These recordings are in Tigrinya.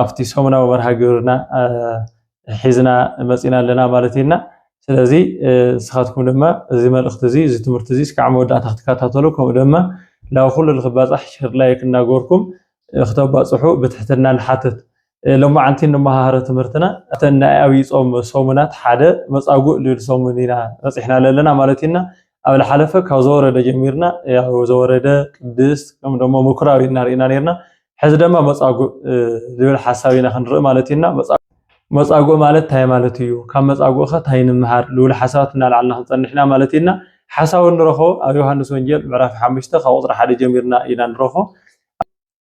ኣብቲ ሰሙናዊ መርሃ ግብርና ሒዝና መፂና ኣለና ማለት እዩና ስለዚ ንስኻትኩም ድማ እዚ መልእኽቲ እዚ እዚ ትምህርቲ እዚ እስካዕ መወዳእታ ክትከታተሉ ከምኡ ድማ ናብ ኩሉ ንክባፃሕ ሸር ላይክ እናገበርኩም ክተባፅሑ ብትሕትና ንሓትት ሎማዓንቲ ንመሃሃረ ትምህርትና እተን ናይ ኣብይ ፆም ሰሙናት ሓደ መፃጉእ ልብል ሰሙን ኢና በፂሕና ኣለና ማለት እዩና ኣብ ዝሓለፈ ካብ ዘወረደ ጀሚርና ዘወረደ ቅድስት ከምኡ ደሞ ምኩራብ ኢና ርኢና ነርና ሕዚ ደማ መጻጉእ ዝብል ሓሳብ ኢና ክንርኢ ማለት ኢና መጻጉእ ማለት እንታይ ማለት እዩ ካብ መጻጉእ ከ እንታይ ንምሃር ዝብሉ ሓሳባት እናልዓልና ክንጸንሕ ኢና ማለት ኢና ሓሳዊ ንረኽቦ ኣብ ዮሃንስ ወንጌል ምዕራፍ ሓሙሽተ ካብ ቁጽሪ ሓደ ጀሚርና ኢና ንረኽቦ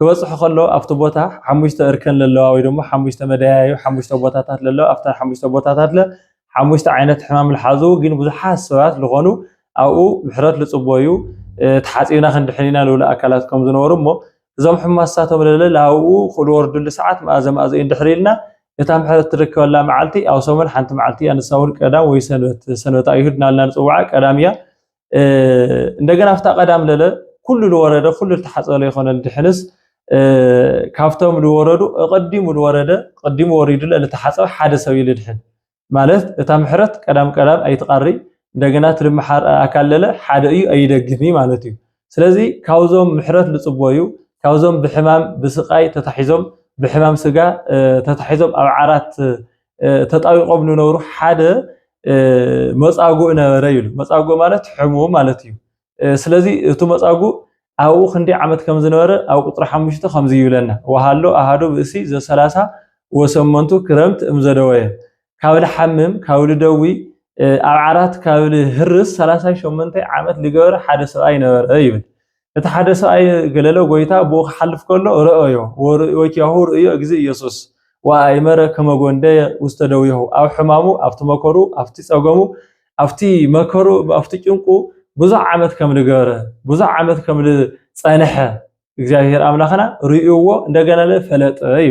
ክበጽሑ ከለዉ ኣብቲ ቦታ ሓሙሽተ እርከን ለለዋ ወይ ደሞ ሓሙሽተ መደያዩ ሓሙሽተ ቦታታት ለለዋ ኣብተን ሓሙሽተ ቦታታት ለ ሓሙሽተ ዓይነት ሕማም ልሓዙ ግን ብዙሓት ሰባት ዝኾኑ ኣብኡ ምሕረት ልጽበዩ ተሓጺብና ክንድሕን ኢና ልብሉ ኣካላት ከም ዝነበሩ እሞ እዞም ሕማሳቶም ለለ ኣብኡ ክልወርድሉ ሰዓት መኣዘ መኣዘ እዩ እንድሕር ኢልና እታ ምሕረት ትርከበላ መዓልቲ ኣብ ሰሙን ሓንቲ መዓልቲ እያ ንሳ እውን ቀዳም ወይ ሰንበት ሰንበት ኣይሁድ ናልና ንጽውዓ ቀዳም እያ እንደገና ኣብታ ቀዳም ለለ ኩሉ ዝወረደ ኩሉ ዝተሓፀለ ይኮነ ድሕንስ ካብቶም ዝወረዱ እቐዲሙ ዝወረደ ቀዲሙ ወሪዱ ለተሓፀበ ሓደ ሰብ እዩ ልድሕን ማለት እታ ምሕረት ቀዳም ቀዳም ኣይትቐሪ እንደገና ትልምሓር ኣካል ለለ ሓደ እዩ ኣይደግም እዩ ማለት እዩ ስለዚ ካብዞም ምሕረት ዝፅቦ እዩ ካብዞም ብሕማም ብስቃይ ተታሒዞም ብሕማም ስጋ ተታሒዞም ኣብ ዓራት ተጣዊቆም ንነብሩ ሓደ መፃጉእ ነበረ ይብሉ። መፃጉእ ማለት ሕሙ ማለት እዩ። ስለዚ እቲ መፃጉእ ኣብኡ ክንደይ ዓመት ከም ዝነበረ ኣብ ቁፅሪ ሓሙሽተ ከምዚ ይብለና ወሃሎ ኣሃዱ ብእሲ ዘሰላሳ ወሰመንቱ ክረምት እምዘደወየ ካብ ልሓምም ካብ ልደዊ ኣብ ዓራት ካብ ልህርስ ሰላሳ ሸመንተ ዓመት ዝገበረ ሓደ ሰብኣይ ነበረ ይብል። እቲ ሓደ ሰብኣይ ገለለ ጎይታ ብኡ ክሓልፍ ከሎ ረኦዮ ወኪያሁ ርእዮ እግዚ ኢየሱስ ወኣእመረ ከመ ጐንደየ ውስተ ደዊሁ ኣብ ሕማሙ ኣብቲ መከሩ ኣብቲ ጸገሙ ኣብቲ መከሩ ኣብቲ ጭንቁ ብዙሕ ዓመት ከም ዝገበረ ብዙሕ ዓመት ከም ዝጸንሐ እግዚኣብሔር ኣምላኽና ርእዩዎ እንደገና ፈለጠ እዩ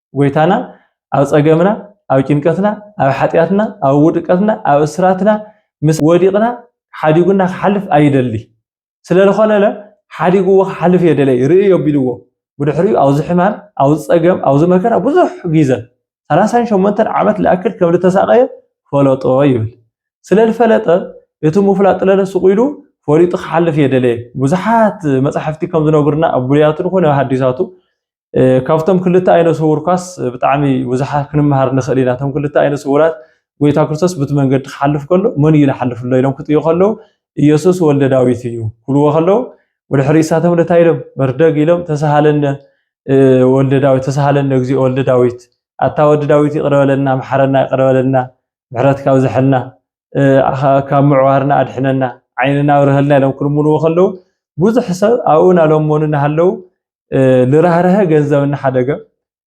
ጎይታና ኣብ ጸገምና ኣብ ጭንቀትና ኣብ ሓጢኣትና ኣብ ውድቀትና ኣብ እስራትና ምስ ወዲቕና ሓዲጉና ክሓልፍ ኣይደሊ ስለ ዝኾነለ ሓዲግዎ ክሓልፍ እየ ደለይ ርእዮ ኣቢልዎ ብድሕሪኡ ኣብዚ ሕማም ኣብዚ ጸገም ኣብዚ መከራ ብዙሕ ግዘ ሰላሳን ሸሞንተን ዓመት ልኣክል ከም ዝተሳቐየ ፈለጦ ይብል ስለ ዝፈለጠ እቲ ምፍላጥ ለለ ስቑ ኢሉ ፈሊጡ ክሓልፍ እየ ደለየ ብዙሓት መፃሕፍቲ ከም ዝነግሩና ኣብ ብሉያቱ ንኮነ ኣብ ሃዲሳቱ ካብቶም ክልተ ኣይነ ስውር ኳስ ብጣዕሚ ብዙሓት ክንመሃር ንኽእል ኢና። እቶም ክልተ ኣይነ ስውራት ጎይታ ክርስቶስ ብቲ መንገዲ ክሓልፍ ከሎ መን እዩ ዝሓልፍ ኣሎ ኢሎም ክጥዩ ከለዉ ኢየሱስ ወልደ ዳዊት እዩ ክብልዎ ከለዉ ወደ ሕርኢሳቶም እንታይ ኢሎም በርደግ ኢሎም ተሳሃለነ ወልደ ዳዊት ተሳሃለነ እግዚኦ ወልደ ዳዊት ኣታ ወዲ ዳዊት ይቅረ በለና መሓረና ይቅረ በለና ምሕረትካ ብዝሐልና ካብ ምዕዋርና ኣድሕነና ዓይንና ኣብርሀልና ኢሎም ክልምንዎ ከለዉ ብዙሕ ሰብ ኣብኡ እናለመኑ እናሃለዉ ልራህረሀ ገንዘብ እናሓደገ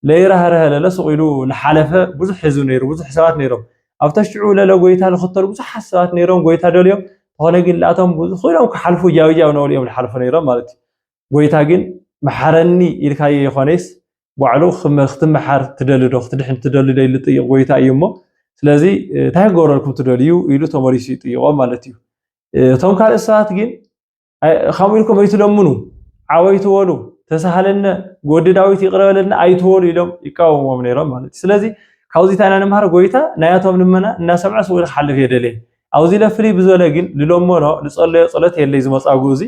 ለይራህረሀ ለለ ሱቕ ኢሉ ንሓለፈ ብዙሕ ህዝቢ ነይሩ ብዙሕ ሰባት ነይሮም ኣብ ተሽዑ ለለ ጎይታ ዝኽተሉ ብዙሓት ሰባት ነይሮም ጎይታ ደልዮም ዝኾነ ግን ላቶም ብዙ ኮይኖም ክሓልፉ ጃብጃብ ነብሉ እዮም ዝሓልፉ ነይሮም ማለት እዩ ጎይታ ግን መሓረኒ ኢልካዮ የኾነይስ ባዕሉ ክትመሓር ትደሊ ዶ ክትድሕን ትደሊ ዶ ኢሉ ዝጥይቕ ጎይታ እዩ እሞ ስለዚ እንታይ ክገብረልኩም ትደልዩ ኢሉ ተመሊሱ ይጥይቖም ማለት እዩ እቶም ካልእ ሰባት ግን ከምኡ ኢልኩም ኣይትለምኑ ዓወይ ትበሉ ተሳሃለነ ጎዲ ዳዊት ይቅረበለና ኣይትበሉ ኢሎም ይቃወሞም ነይሮም ማለት እዩ ስለዚ ካብዚ እንታይ ኢና ንምሃር ጎይታ ናያቶም ልመና እናሰምዐ ስኡ ክሓልፍ የደለየ ኣብዚ ለፍሊ ብዝበለ ግን ልለመኖ ልፀለዮ ፀሎት የለይ ዝመፃጉ እዚ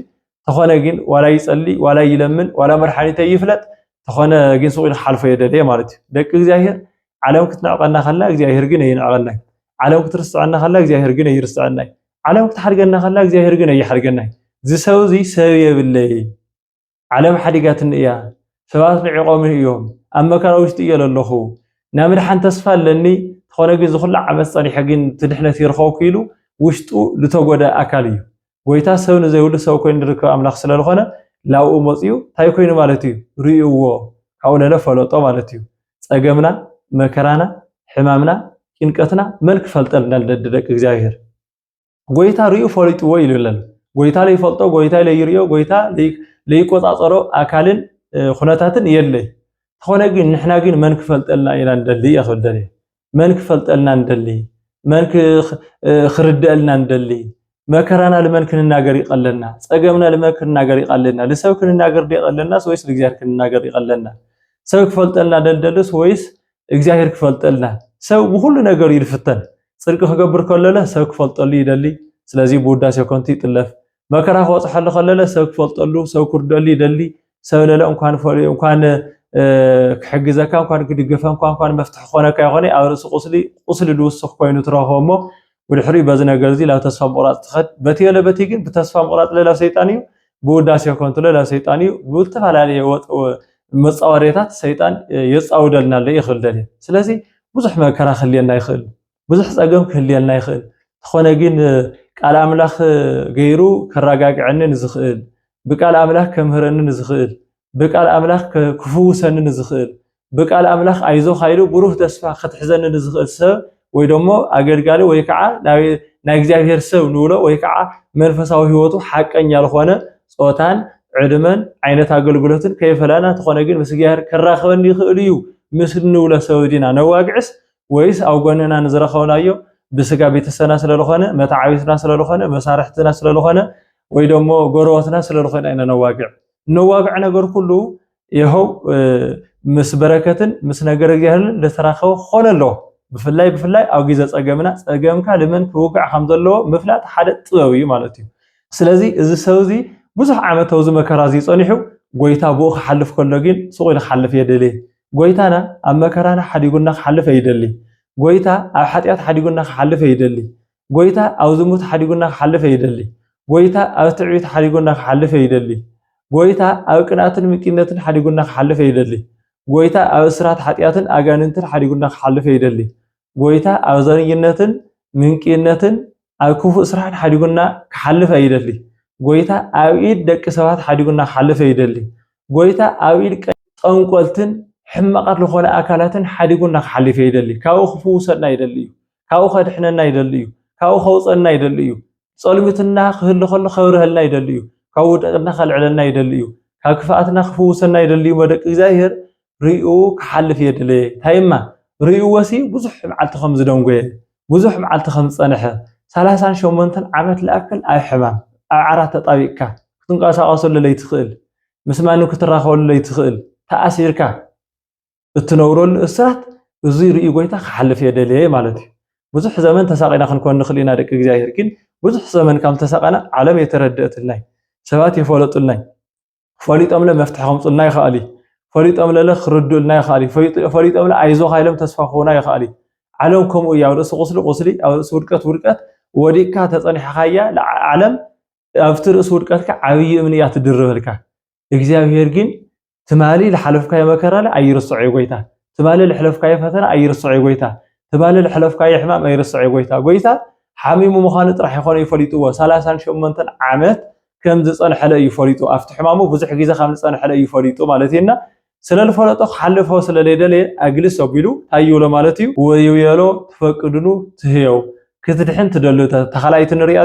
ተኾነ ግን ዋላ ይጸሊ ዋላ ይለምን ዋላ መድሓኒተ ይፍለጥ ተኾነ ግን ስቕ ኢሉ ክሓልፎ የደለየ ማለት እዩ ደቂ እግዚኣብሄር ዓለም ክትንዕቀና ከላ እግዚኣብሄር ግን ኣይንዕቀናይ ዓለም ክትርስዐና ከላ እግዚኣብሄር ግን ኣይርስዐናይ ዓለም ክትሓድገና ከላ እግዚኣብሄር ግን ኣይሓድገናይ ዝሰብ እዚ ሰብ የብለይ ዓለም ሓዲጋትኒ እያ ሰባት ንዒቆምኒ እዮም ኣብ መከራ ውሽጢ እየ ዘለኹ ናይ ምድሓን ተስፋ ኣለኒ ተኾነ ግን ዝኹሉ ዓመት ፀኒሐ ግን ትድሕነት ይርኸብኩ ኢሉ ውሽጡ ዝተጎደ ኣካል እዩ ጎይታ ሰብ ንዘይብሉ ሰብ ኮይኑ ዝርከብ ኣምላኽ ስለ ዝኾነ ላብኡ መጺኡ እንታይ ኮይኑ ማለት እዩ ርእዩዎ ካብኡ ለለ ፈለጦ ማለት እዩ ጸገምና መከራና ሕማምና ጭንቀትና መን ክፈልጠልና ልደዲ ደቂ እግዚኣብሔር ጎይታ ርእዩ ፈሊጥዎ ኢሉ ኣለና ጎይታ ለይፈልጦ ጎይታ ለይርዮ ጎይታ ለይቆጻጸሮ ኣካልን ኩነታትን የለይ ተኾነ ግን ንሕና ግን መን ክፈልጠልና ኢና ንደሊ እያ ክብል ደልየ መን ክፈልጠልና ንደሊ መን ክርደኣልና ንደሊ መከራና ልመን ክንናገር ይቀለና ጸገምና ልመን ክንናገር ይቀለና ልሰብ ክንናገር ይቀለናስ ወይስ ልእግዚኣብሔር ክንናገር ይቀለና ሰብ ክፈልጠልና ደልደልስ ወይስ እግዚኣብሔር ክፈልጠልና ሰብ ብኩሉ ነገር እዩ ዝፍተን ጽድቂ ክገብር ከለለ ሰብ ክፈልጠሉ ይደሊ ስለዚ ብውዳሴ ኮንቲ ይጥለፍ መከራ ክበጽሐሉ ከለለ ሰብ ክፈልጠሉ ሰብ ክርደሉ ይደሊ ሰብ ለለ እንኳን ፈልዩ እንኳን ክሕግዘካ እንኳን ክድገፈንኳ እንኳን መፍትሒ ክኾነካ ይኾነ ኣብ ርእሲ ቁስሊ ቁስሊ ዝውስኽ ኮይኑ ትረኽቦ እሞ ብድሕሪኡ በዚ ነገር እዚ ላብ ተስፋ ምቑራፅ ትኸድ በቲ የለ በቲ ግን ብተስፋ ምቑራፅ ለላብ ሰይጣን እዩ ብውዳሴ ከንቱ ለላብ ሰይጣን እዩ ብዝተፈላለየ መፃወዴታት ሰይጣን የፃውደልና ኣሎ ይኽእል ደልየ ስለዚ ብዙሕ መከራ ክህልየና ይኽእል ብዙሕ ጸገም ክህልየልና ይኽእል። እንተኾነ ግን ቃል ኣምላኽ ገይሩ ከረጋግዐኒ ንዝኽእል፣ ብቃል ኣምላኽ ከምህረኒ ንዝኽእል፣ ብቃል ኣምላኽ ክፍውሰኒ ንዝኽእል፣ ብቃል ኣምላኽ ኣይዞኻ ኢሉ ብሩህ ተስፋ ከትሕዘኒ ንዝኽእል ሰብ ወይ ደሞ ኣገልጋሊ ወይ ከዓ ናይ እግዚኣብሔር ሰብ ንብሎ ወይ ከዓ መንፈሳዊ ህይወቱ ሓቀኛ ዝኾነ ጾታን ዕድመን ዓይነት ኣገልግሎትን ከይፈለና እንተኾነ ግን ምስ እግዚኣብሔር ከራኽበኒ ይኽእል እዩ ምስ ንብሎ ሰብ ዲና ነዋግዕስ ወይስ ኣብ ጎንና ንዝረኸብናዮ ብስጋ ቤተሰብና ስለዝኾነ መታዓቢትና ስለዝኾነ መሳርሕትና ስለዝኾነ ወይ ደሞ ጎረበትና ስለዝኾነ ኢና ነዋግዕ ነዋግዕ ነገር ኩሉ ይኸው ምስ በረከትን ምስ ነገር እግዚኣብሔርን ዝተራኸበ ክኾነ ኣለዎ ብፍላይ ብፍላይ ኣብ ግዜ ፀገምና ፀገምካ ልመን ክውጋዕ ከም ዘለዎ ምፍላጥ ሓደ ጥበብ እዩ ማለት እዩ ስለዚ እዚ ሰብ እዚ ብዙሕ ዓመት ኣብዚ መከራ እዚ ፀኒሑ ጎይታ ብኡ ክሓልፍ ከሎ ግን ስቑኢሉ ክሓልፍ የድሊ ጎይታና ኣብ መከራና ሓዲጉና ክሓልፍ ኣይደልይ ጎይታ ኣብ ሓጢኣት ሓዲጉና ክሓልፍ ኣይደልይ ጎይታ ኣብ ዝሙት ሓዲጉና ክሓልፍ ኣይደልይ ጎይታ ኣብ ትዕቢት ሓዲጉና ክሓልፍ ኣይደልይ ጎይታ ኣብ ቅንኣትን ምቂነትን ሓዲጉና ክሓልፍ ኣይደልይ ጎይታ ኣብ እስራት ሓጢኣትን ኣጋንንትን ሓዲጉና ክሓልፍ ኣይደልይ ጎይታ ኣብ ዘረኝነትን ምንቅይነትን ኣብ ክፉእ ስራሕን ሓዲጉና ክሓልፍ ኣይደሊ። ጎይታ ኣብ ኢድ ደቂ ሰባት ሓዲጉና ክሓልፍ ኣይደሊ። ጎይታ ኣብ ኢድ ጠንቆልትን ሕማቓት ዝኾነ ኣካላትን ሓዲጉና ክሓልፍ ኣይደሊ። ካብኡ ክፍውሰና ይደሊ እዩ። ካብኡ ከድሕነና ይደሊ እዩ። ካብኡ ከውፀና ይደሊ እዩ። ጸልሚትና ክህሉ ከሎ ከብርሀልና ይደሊ እዩ። ካብ ውድቅና ከልዕለና ይደሊ እዩ። ካብ ክፍኣትና ክፍውሰና ይደሊ እዩ። መደቂ እግዚኣብሔር ሪኡ ክሓልፍ እየ ደለየ እንታይ እማ ሪእዎሲ ብዙሕ መዓልቲ ከም ዝደንጎየ ብዙሕ መዓልቲ ከም ዝጸንሐ ሰላሳን ሸሞንተን ዓመት ልኣክል ኣብ ሕማም ኣብ ዓራት ተጣቢቅካ ክትንቀሳቀሰሉ ለይትኽእል ምስ ማንም ክትራኸበሉ ለይትኽእል ተኣሲርካ እትነብረሉ እስራት እዚ ሪኡ ጎይታ ክሓልፍ እየ ደለየ ማለት እዩ ብዙሕ ዘመን ተሳቂና ክንኮን ንኽእል ኢና ደቂ እግዚኣብሔር ግን ብዙሕ ዘመን ከም ተሳቀና ዓለም የተረደእትልናይ ሰባት የፈለጡልናይ ፈሊጦምለ መፍትሒ ከምፁልና ይክኣል እዩ ፈሊጦምለለ ክርድኡልና ይክኣል እዩ ፈሊጦ ፈሊጦምለ ኣይዞካ ኢሎም ተስፋ ክህቡና ይክኣል እዩ ዓለም ከምኡ እያ ኣብ ርእሲ ቁስሊ ቁስሊ ኣብ ርእሲ ውድቀት ውድቀት ወዲቅካ ተፀኒሕካያ ዓለም ኣብቲ ርእሲ ውድቀትካ ዓብዪ እምኒ እያ ትድርበልካ እግዚኣብሄር ግን ትማሊ ዝሓለፍካዮ መከራለ ኣይርስዖ እዩ ጎይታ ትማሊ ዝሕለፍካዮ ፈተና ኣይርስዖ እዩ ጎይታ ትማሊ ዝሕለፍካዮ ሕማም ኣይርስዖ እዩ ጎይታ ጎይታ ሓሚሙ ምዃኑ ጥራሕ ይኾነ ይፈሊጥዎ ሰላሳን ሸሞንተን ዓመት ከም ዝጸንሐለ እዩ ፈሊጡ ኣብቲ ሕማሙ ብዙሕ ግዜ ከም ዝጸንሐለ እዩ ፈሊጡ ማለት እዩ እና ስለ ዝፈለጦ ክሓልፎ ስለ ዘይደለየ ኣግልስ ኣቢሉ እንታይ ይብሎ ማለት እዩ ወይብየሎ ትፈቅድኑ ትህየው ክትድሕን ትደሉ ተኻላይቲ ንሪኣ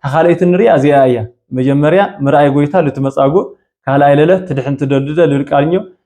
ተኻላይቲ ንሪኣ እዚኣ እያ መጀመርያ ምርኣይ ጎይታ ልትመጻጉእ ካልኣይ ለለ ትድሕን ትደልደ ልልቃልኞ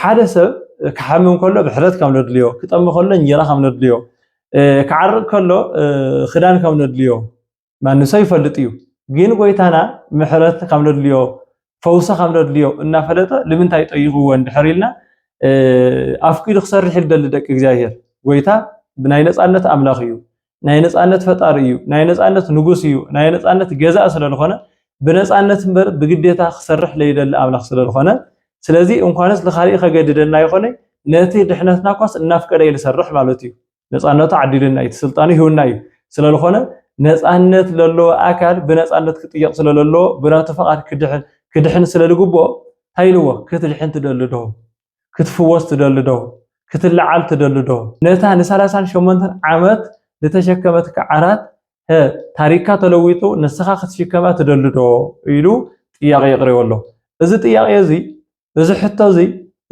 ሓደ ሰብ ክሓምም ከሎ ብሕረት ከም ነድልዮ፣ ክጠሚ ከሎ እንጀራ ከም ነድልዮ፣ ክዓርቅ ከሎ ክዳን ከም ነድልዮ ማንም ሰብ ይፈልጥ እዩ። ግን ጎይታና ምሕረት ከም ነድልዮ ፈውሲ ከም ነድልዮ እናፈለጠ ንምንታይ ጠይቅዎ እንድሕር ኢልና ኣፍቂዱ ክሰርሕ ይደሊ ደቂ እግዚኣብሔር ጎይታ ብናይ ነፃነት ኣምላኽ እዩ። ናይ ነፃነት ፈጣሪ እዩ፣ ናይ ነፃነት ንጉስ እዩ፣ ናይ ነፃነት ገዛእ ስለዝኾነ ብነፃነት እምበር ብግዴታ ክሰርሕ ለይደሊ ኣምላኽ ስለዝኾነ ስለዚ እንኳንስ ንኻሊእ ከገድደና ይኾነ ነቲ ድሕነትና እኳስ እናፍቀደ እዩ ዝሰርሕ ማለት እዩ። ነፃነቱ ዓዲሉና እዩ፣ እቲ ስልጣኑ ሂውና እዩ። ስለዝኾነ ነፃነት ለለዎ ኣካል ብነፃነት ክጥየቕ ስለለለዎ ብናቱ ፈቓድ ክድሕን ክድሕን ስለዝግብኦ እንታይ ኢልዎ ክትድሕን ትደሊ ዶ? ክትፍወስ ትደሊ ዶ? ክትለዓል ትደሊ ዶ? ነታ ንሳላሳን ሸሞንተን ዓመት ዝተሸከመትካ ዓራት ሀ ታሪካ ተለዊጡ ንስኻ ክትሽከማ ትደሊ ዶ? ኢሉ ጥያቄ የቅሪቦ ኣሎ። እዚ ጥያቄ እዚ እዚ ሕቶ እዚ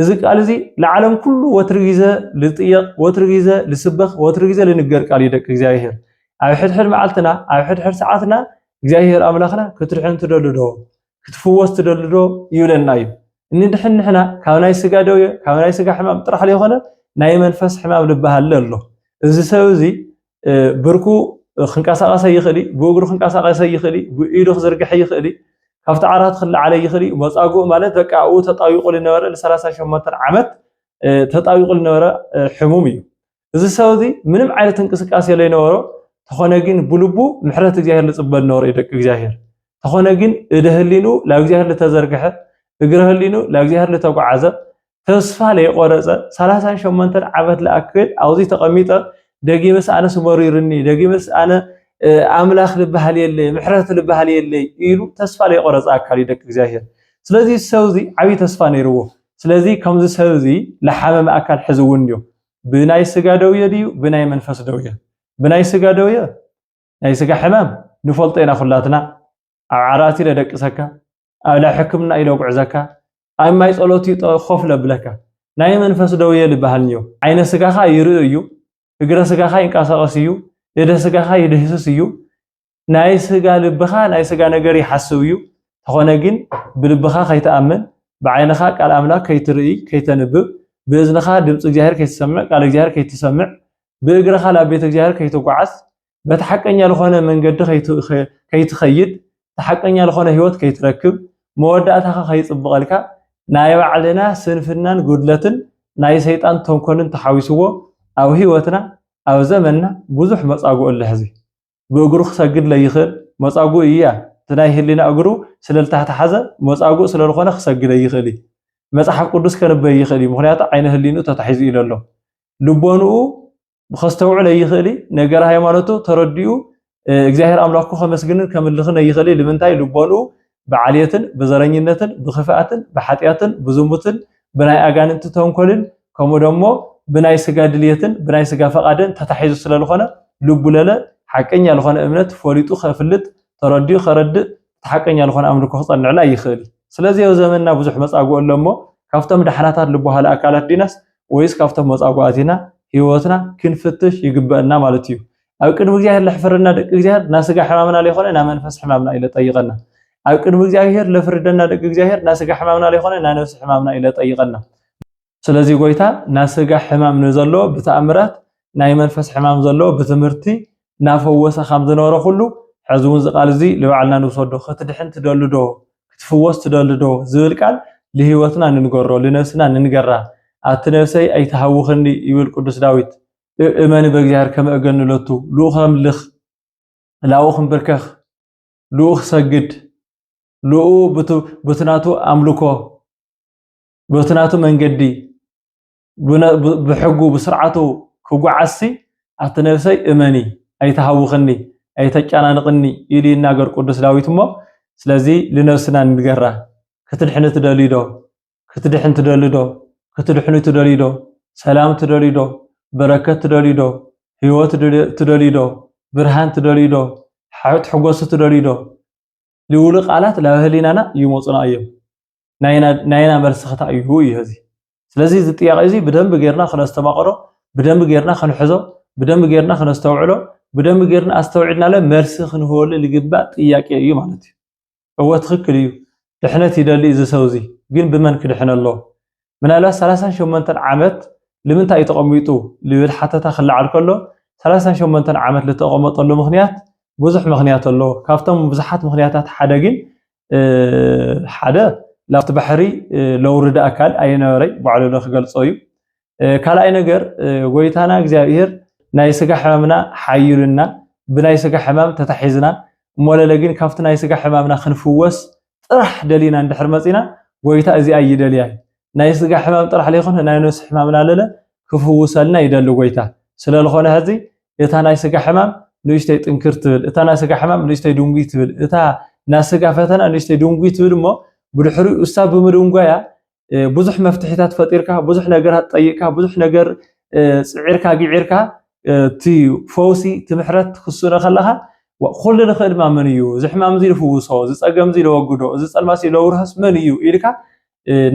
እዚ ቃል እዚ ለዓለም ኩሉ ወትሪ ግዜ ልጥየቅ ወትሪ ግዜ ልስበኽ ወትሪ ግዜ ልንገር ቃል እዩ ደቂ እግዚኣብሔር ኣብ ሕድሕድ መዓልትና ኣብ ሕድሕድ ሰዓትና እግዚኣብሔር ኣምላኽና ክትድሕን ትደሊ ዶ? ክትፍወስ ትደልዶ ይብለና እዩ። እንድሕን ንሕና ካብ ናይ ስጋ ደዌ ካብ ናይ ስጋ ሕማም ጥራሕ ዘይኮነ ናይ መንፈስ ሕማም ልበሃለ ኣሎ እዚ ሰብ እዚ ብርኩ ክንቀሳቀሰ ይኽእል እዩ ብእግሩ ክንቀሳቀሰ ይኽእል እዩ ብኢዱ ክዝርግሐ ይኽእል እዩ ካብቲ ዓራት ክለዓለ ይኽእል እዩ መፃጉእ ማለት በቃ ኣብኡ ተጣቢቁ ዝነበረ ን38 ዓመት ተጣቢቁ ዝነበረ ሕሙም እዩ እዚ ሰብ እዚ ምንም ዓይነት እንቅስቃሴ ለይነበሮ ተኾነ ግን ብልቡ ምሕረት እግዚኣብሔር ልጽበ ነበረ እዩ ደቂ እግዚኣብሔር ተኾነ ግን እደ ህሊኑ ላብ እግዚኣብሔር ልተዘርግሐ እግረ ህሊኑ ላብ እግዚኣብሔር ልተጓዓዘ ተስፋ ለይቆረጸ ሰላሳን ሸሞንተን ዓመት ልኣክል ኣብዚ ተቐሚጠ ደጊምስ ኣነ ስመሪርኒ ደጊምስ ኣነ ኣምላኽ ልበሃል የለይ ምሕረት ልበሃል የለይ ኢሉ ተስፋ ለይቆረጸ ኣካል እዩ ደቂ እግዚኣብሔር ስለዚ ሰብ እዚ ዓብዪ ተስፋ ነይርዎ ስለዚ ከምዚ ሰብ እዚ ለሓመመ ኣካል ሕዚ እውን እዩ ብናይ ስጋ ደውየ ድዩ ብናይ መንፈስ ደውየ ብናይ ስጋ ደውየ ናይ ስጋ ሕማም ንፈልጦ ኢና ኩላትና ኣብ ዓራት ኢለ ደቅሰካ ኣብ ናይ ሕክምና ኢለ ጉዕዘካ ኣብ ማይ ጸሎት እዩ ኮፍ ለብለካ ናይ መንፈስ ደውየ ዝበሃል እንዮ ዓይነ ስጋኻ ይርኢ እዩ እግረ ስጋኻ ይንቀሳቐስ እዩ እደ ስጋኻ ይድህስስ እዩ ናይ ስጋ ልብኻ ናይ ስጋ ነገር ይሓስብ እዩ፣ እንተኾነ ግን ብልብኻ ከይትኣምን፣ ብዓይንኻ ቃል ኣምላክ ከይትርኢ ከይተንብብ፣ ብእዝንኻ ድምጺ እግዚኣብሔር ከይትሰምዕ ቃል እግዚኣብሔር ከይትሰምዕ፣ ብእግርኻ ናብ ቤተ እግዚኣብሔር ከይትጓዓዝ፣ በቲ ሓቀኛ ልኾነ መንገዲ ከይትኸይድ፣ እቲ ሓቀኛ ልኾነ ሕይወት ከይትረክብ፣ መወዳእታኻ ከይጽብቐልካ፣ ናይ ባዕልና ስንፍናን ጉድለትን ናይ ሰይጣን ተንኮልን ተሓዊስዎ ኣብ ሕይወትና ኣብ ዘመንና ብዙሕ መጻጉዕ ኣሎ ሕዚ። ብእግሩ ክሰግድ ለይኽእል መጻጉእ እያ እቲ ናይ ህሊና እግሩ ስለልታህተሓዘ መጻጉእ ስለልኾነ ክሰግድ ኣይኽእል እዩ መጽሓፍ ቅዱስ ከንብብ ኣይኽእል እዩ ምኽንያቱ ዓይነ ህሊንኡ ተታሒዙ እዩ ለሎ ልቦንኡ ከስተውዕል ኣይኽእል እዩ ነገረ ሃይማኖቱ ተረዲኡ እግዚኣብሔር ኣምላኩ ከመስግንን ከምልኽን ኣይኽእል እዩ ልምንታይ ልቦንኡ ብዓልየትን ብዘረኝነትን ብኽፍኣትን ብሓጢኣትን ብዝሙትን ብናይ ኣጋንንቲ ተንኮልን ከምኡ ደሞ ብናይ ስጋ ድልየትን ብናይ ስጋ ፈቓደን ተታሒዙ ስለ ልኾነ ልቡ ለለ ሓቀኛ ልኾነ እምነት ፈሊጡ ከፍልጥ ተረዲኡ ከረድእ እቲ ሓቀኛ ልኾነ ኣምልኮ ክጸንዕሉ ኣይኽእል እዩ። ስለዚ ኣብ ዘመንና ብዙሕ መጻጉዕ ኣሎ እሞ ካብቶም ደሓናታት ልበሃሉ ኣካላት ዲናስ ወይስ ካብቶም መጻጉዓት ኢና ህይወትና ክንፍትሽ ይግበእና ማለት እዩ። ኣብ ቅድሚ እግዚኣብሔር ለሕፍረና ደቂ እግዚኣብሔር እና ስጋ ሕማምና ለይኮነ እና መንፈስ ሕማምና ኢለ ጠይቀና ኣብ ቅድሚ እግዚኣብሔር ለፍርደና ደቂ እግዚኣብሔር እና ስጋ ሕማምና ለይኮነ እና ነፍሲ ሕማምና ኢለ ጠይቀና ስለዚ ጎይታ እና ስጋ ሕማም ንዘለዎ ብተኣምራት ናይ መንፈስ ሕማም ዘለዎ ብትምህርቲ እናፈወሰ ከም ዝነበረ ኩሉ ሕዚ እውን እዚ ቃል እዚ ንባዕልና ንውሰዶ ክትድሕን ትደሊ ዶ ክትፍወስ ትደሊ ዶ ዝብል ቃል ንህይወትና ንንገሮ ንነብስና ንንገራ ኣቲ ነብሰይ ኣይትሃውኽኒ ይብል ቅዱስ ዳዊት እመኒ በእግዚኣብሔር ከመ እገኑ ሎቱ ልኡኽ ኣምልኽ ላውኽ እምብርከኽ ልኡኽ ሰግድ ልኡ በቲ ናቱ ኣምልኮ በቲ ናቱ መንገዲ ብሕጉ ብስርዓቱ ክጓዓዝሲ ኣቲ ነብሰይ እመኒ ኣይተሃውኽኒ ኣይተጨናንቕኒ ኢሉ ይናገር ቅዱስ ዳዊት እሞ ስለዚ ልነብስና ንገራ ክትድሕኒ ትደልዩ ዶ ክትድሕን ትደሊ ዶ? ክትድሕኑ ትደልዩ ዶ? ሰላም ትደልዩ ዶ? በረከት ትደልዩ ዶ? ህይወት ትደልዩ ዶ? ብርሃን ትደልዩ ዶ? ትሕጎሱ ትደልዩ ዶ? ልውሉ ቃላት ላብ ህሊናና ይመፁና እዮም። ናይና መልሲ ክታ እዩ እዩ እዚ ስለዚ እዚ ጥያቄ እዚ ብደንብ ጌርና ክነስተማቕሮ ብደንብ ጌርና ክንሕዞ ብደንብ ጌርና ክነስተውዕሎ ብደንብ ጌርና ኣስተውዒልናለ መልሲ ክንህበሉ ዝግባእ ጥያቄ እዩ ማለት እዩ እወ ትክክል እዩ ድሕነት ይደሊ እዚ ሰው እዚ ግን ብመን ክድሕን ኣሎ ምናልባት ሰላሳን ሸሞንተን ዓመት ልምንታይ እዩ ተቀሚጡ ልብል ሓተታ ክለዓል ከሎ ሰላሳን ሸሞንተን ዓመት ልተቀመጠሉ ምክንያት ብዙሕ ምክንያት ኣሎ ካብቶም ብዙሓት ምክንያታት ሓደ ግን ሓደ ላብቲ ባሕሪ ለውርድ ኣካል ኣይነበረይ ባዕሉ ለ ክገልጾ እዩ ካልኣይ ነገር ጎይታና እግዚኣብሔር ናይ ስጋ ሕማምና ሓዩልና ብናይ ስጋ ሕማም ተታሒዝና እሞለለ ግን ካብቲ ናይ ስጋ ሕማምና ክንፍወስ ጥራሕ ደሊና እንድሕር መፂና ጎይታ እዚኣ ይደልያ ናይ ስጋ ሕማም ጥራሕ ለይኮነ ናይ ነብሲ ሕማምና ለለ ክፍውሰልና ይደሊ ጎይታ ስለዝኾነ ሕዚ እታ ናይ ስጋ ሕማም ንእሽተይ ጥንክር ትብል እታ ናይ ስጋ ሕማም ንእሽተይ ድንጉይ ትብል እታ ናይ ስጋ ፈተና ንእሽተይ ድንጉይ ትብል እሞ ብድሕሪኡ እሳ ብምድንጓያ ብዙሕ መፍትሒታት ፈጢርካ ብዙሕ ነገራት ጠይቅካ ብዙሕ ነገር ፅዒርካ ግዒርካ እቲ ፈውሲ እቲ ምሕረት ክስእኖ ከለኻ ኩሉ ንኽእል ድማ መን እዩ እዚ ሕማም እዚ ዝፍውሶ እዚ ፀገም እዚ ዘወግዶ እዚ ፀልማት እዚ ዘውርሃስ መን እዩ ኢልካ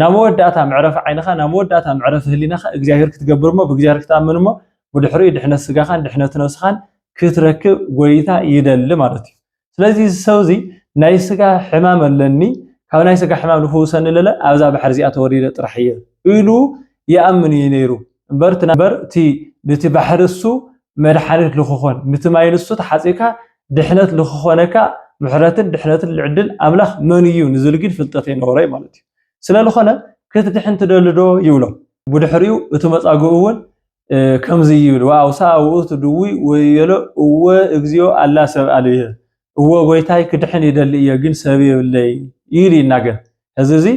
ናብ መወዳእታ መዕረፊ ዓይንኻ ናብ መወዳእታ መዕረፊ ህሊናኻ እግዚኣብሔር ክትገብር እሞ ብእግዚኣብሔር ክትኣምን እሞ ብድሕሪኡ ድሕነት ስጋኻን ድሕነት ነብስኻን ክትረክብ ጎይታ ይደሊ ማለት እዩ ስለዚ እዚ ሰብ እዚ ናይ ስጋ ሕማም ኣለኒ ካብ ናይ ስጋ ሕማም ንፍውሰኒ ለለ ኣብዛ ባሕሪ እዚኣ ተወሪደ ጥራሕ እየ ኢሉ ይኣምን እዩ ነይሩ እምበር እምበር እቲ ንቲ ባሕሪ እሱ መድሓኒት ልክኾን ንቲ ማይ ንሱ ተሓፂካ ድሕነት ልክኾነካ ምሕረትን ድሕነትን ልዕድል ኣምላኽ መን እዩ ንዝብል ግን ፍልጠት ኣይነበሮ እዩ ማለት እዩ ስለልኾነ ክትድሕን ትደሊ ዶ ይብሎ ብድሕሪኡ እቲ መፃግኡ እውን ከምዚ ይብል ወአውሳ ውእቱ ድውይ ወይቤሎ እወ እግዚኦ አላ ሰብ አልብየ እወ ጎይታይ ክድሕን ይደሊ እየ ግን ሰብ የብለይ ይል ይናገር እዚ እዚ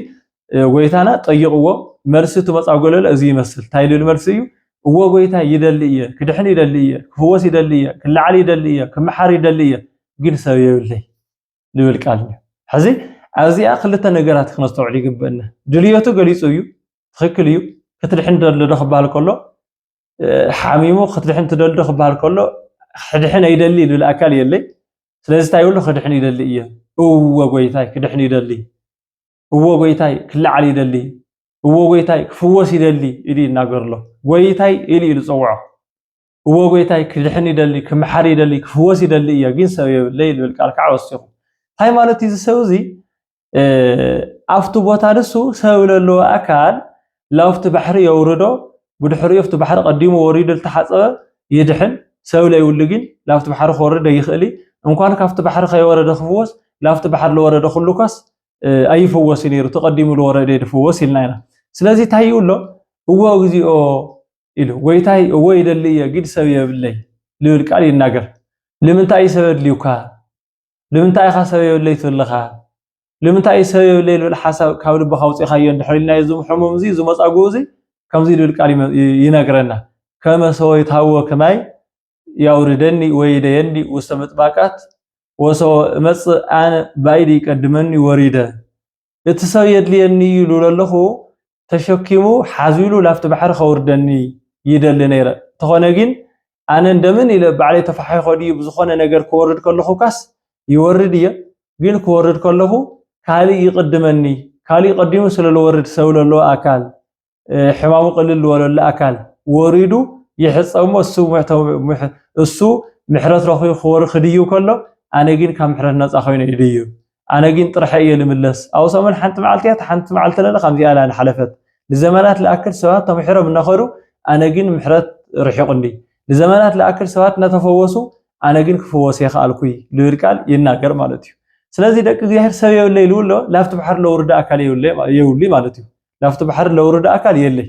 ጎይታና ጠይቅዎ መልሲ እቲ መጻጎለለ እዚ ይመስል እንታይ ልብል መልሲ እዩ እወ ጎይታይ ይደሊ እየ ክድሕን ይደሊ እየ ክፍወስ ይደሊ እየ ክለዓል ይደሊ እየ ክመሓር ይደሊ እየ ግን ሰብ የብለይ ዝብል ቃል እዩ። ሕዚ ኣብዚኣ ክልተ ነገራት ክነስተውዕል ይግበእና። ድልየቱ ገሊጹ እዩ፣ ትኽክል እዩ። ክትድሕን ደሎ ዶ ክበሃል ከሎ ሓሚሙ ክትድሕን ትደሊ ዶ ክበሃል ከሎ ክድሕን ኣይደሊ ዝብል ኣካል የለይ። ስለዚ እንታይ ይብሉ ክድሕን ይደሊ እየ። እወ ጎይታይ ክድሕን ይደሊ፣ እወ ጎይታይ ክለዓል ይደሊ፣ እወ ጎይታይ ክፍወስ ይደሊ ኢሉ ይናገር ኣሎ። ጎይታይ ኢሉ ኢሉ ዝጸውዖ እዎ ጎይታይ ክድሕን ይደሊ ክምሓር ይደሊ ክፍወስ ይደሊ እዮ ግን ሰብ የብለይ ዝብል ቃል ከዓ ወሲኹ እንታይ ማለት እዩ ዝሰብ እዚ ኣብቲ ቦታ ንሱ ሰብ ለለዎ ኣካል ላብቲ ባሕሪ የውርዶ ብድሕሪኡ ኣብቲ ባሕሪ ቀዲሙ ወሪዱ ዝተሓፀበ ይድሕን ሰብ ለይብሉ ግን ላብቲ ባሕሪ ክወርድ ኣይኽእል እንኳን ካብቲ ባሕሪ ከይወረደ ክፍወስ ላብቲ ባሕሪ ዝወረደ ኩሉ ኳስ ኣይፍወስ ነይሩ ተቀዲሙ ዝወረደ ድፍወስ ኢልና ኢና ስለዚ እንታይ ይብሎ እዎ እግዚኦ ኢሉ ጎይታይ እዎ ይደሊ እየ ግድ ሰብ የብለይ ልብል ቃል ይናገር ልምንታይ እዩ ሰብ ኣድልዩካ ልምንታይ ኢኻ ሰብ የብለይ ትብል ለኻ ልምንታይ እዩ ሰብ የብለይ ልብል ሓሳብ ካብ ልብኻ ኣውጺእኻዮ እንድሕር ኢልናዮ እዚ ሕሙም እዚ እዚ መጻጉኡ እዚ ከምዚ ልብል ቃል ይነግረና ከመ ሰወይት ሃዎ ከማይ ያውርደኒ ወይደየኒ ውስተ ምጥባቃት ወሰወ እመጽእ ኣነ ባይዲ ይቀድመኒ ወሪደ እቲ ሰብ የድልየኒ እዩ ኢሉ ለለኹ ተሸኪሙ ሓዙ ኢሉ ላብቲ ባሕሪ ከውርደኒ ይደሊ ነይረ እንተኾነ ጊን ኣነ እንደምን ኢለ ባዕለይ ተፋሒኾ ድዩ ብዝኾነ ነገር ክወርድ ከለኹካስ ይወርድ እየ ጊን ክወርድ ከለኹ ካሊእ ይቅድመኒ ካሊእ ቀዲሙ ስለ ልወርድ ሰብ ለለዎ ኣካል ሕማሙ ቅልል ዝበለሉ ኣካል ወሪዱ ይሕፀሞ እሱ ምሕረት ረኺቡ ክወሪ ክድዩ ከሎ ኣነ ግን ካብ ምሕረት ነፃ ኮይኑ ይድዩ ኣነ ግን ጥርሐ እየ ልምለስ ኣብ ሰሙን ሓንቲ መዓልቲ እያ ሓንቲ መዓልቲ ለለ ከምዚኣ ላ ንሓለፈት ንዘመናት ልኣክል ሰባት ተምሒሮም እናኸዱ ኣነ ግን ምሕረት ርሒቑኒ ንዘመናት ልኣክል ሰባት እናተፈወሱ ኣነ ግን ክፈወስ የኸኣልኩይ ልብል ቃል ይናገር ማለት እዩ ስለዚ ደቂ እግዚኣብሔር ሰብ የብለይ ልብሎ ላብቲ ባሕሪ ለውርዳ ኣካል የብሉይ ማለት እዩ ናብቲ ባሕሪ ለውርድ ኣካል የለይ።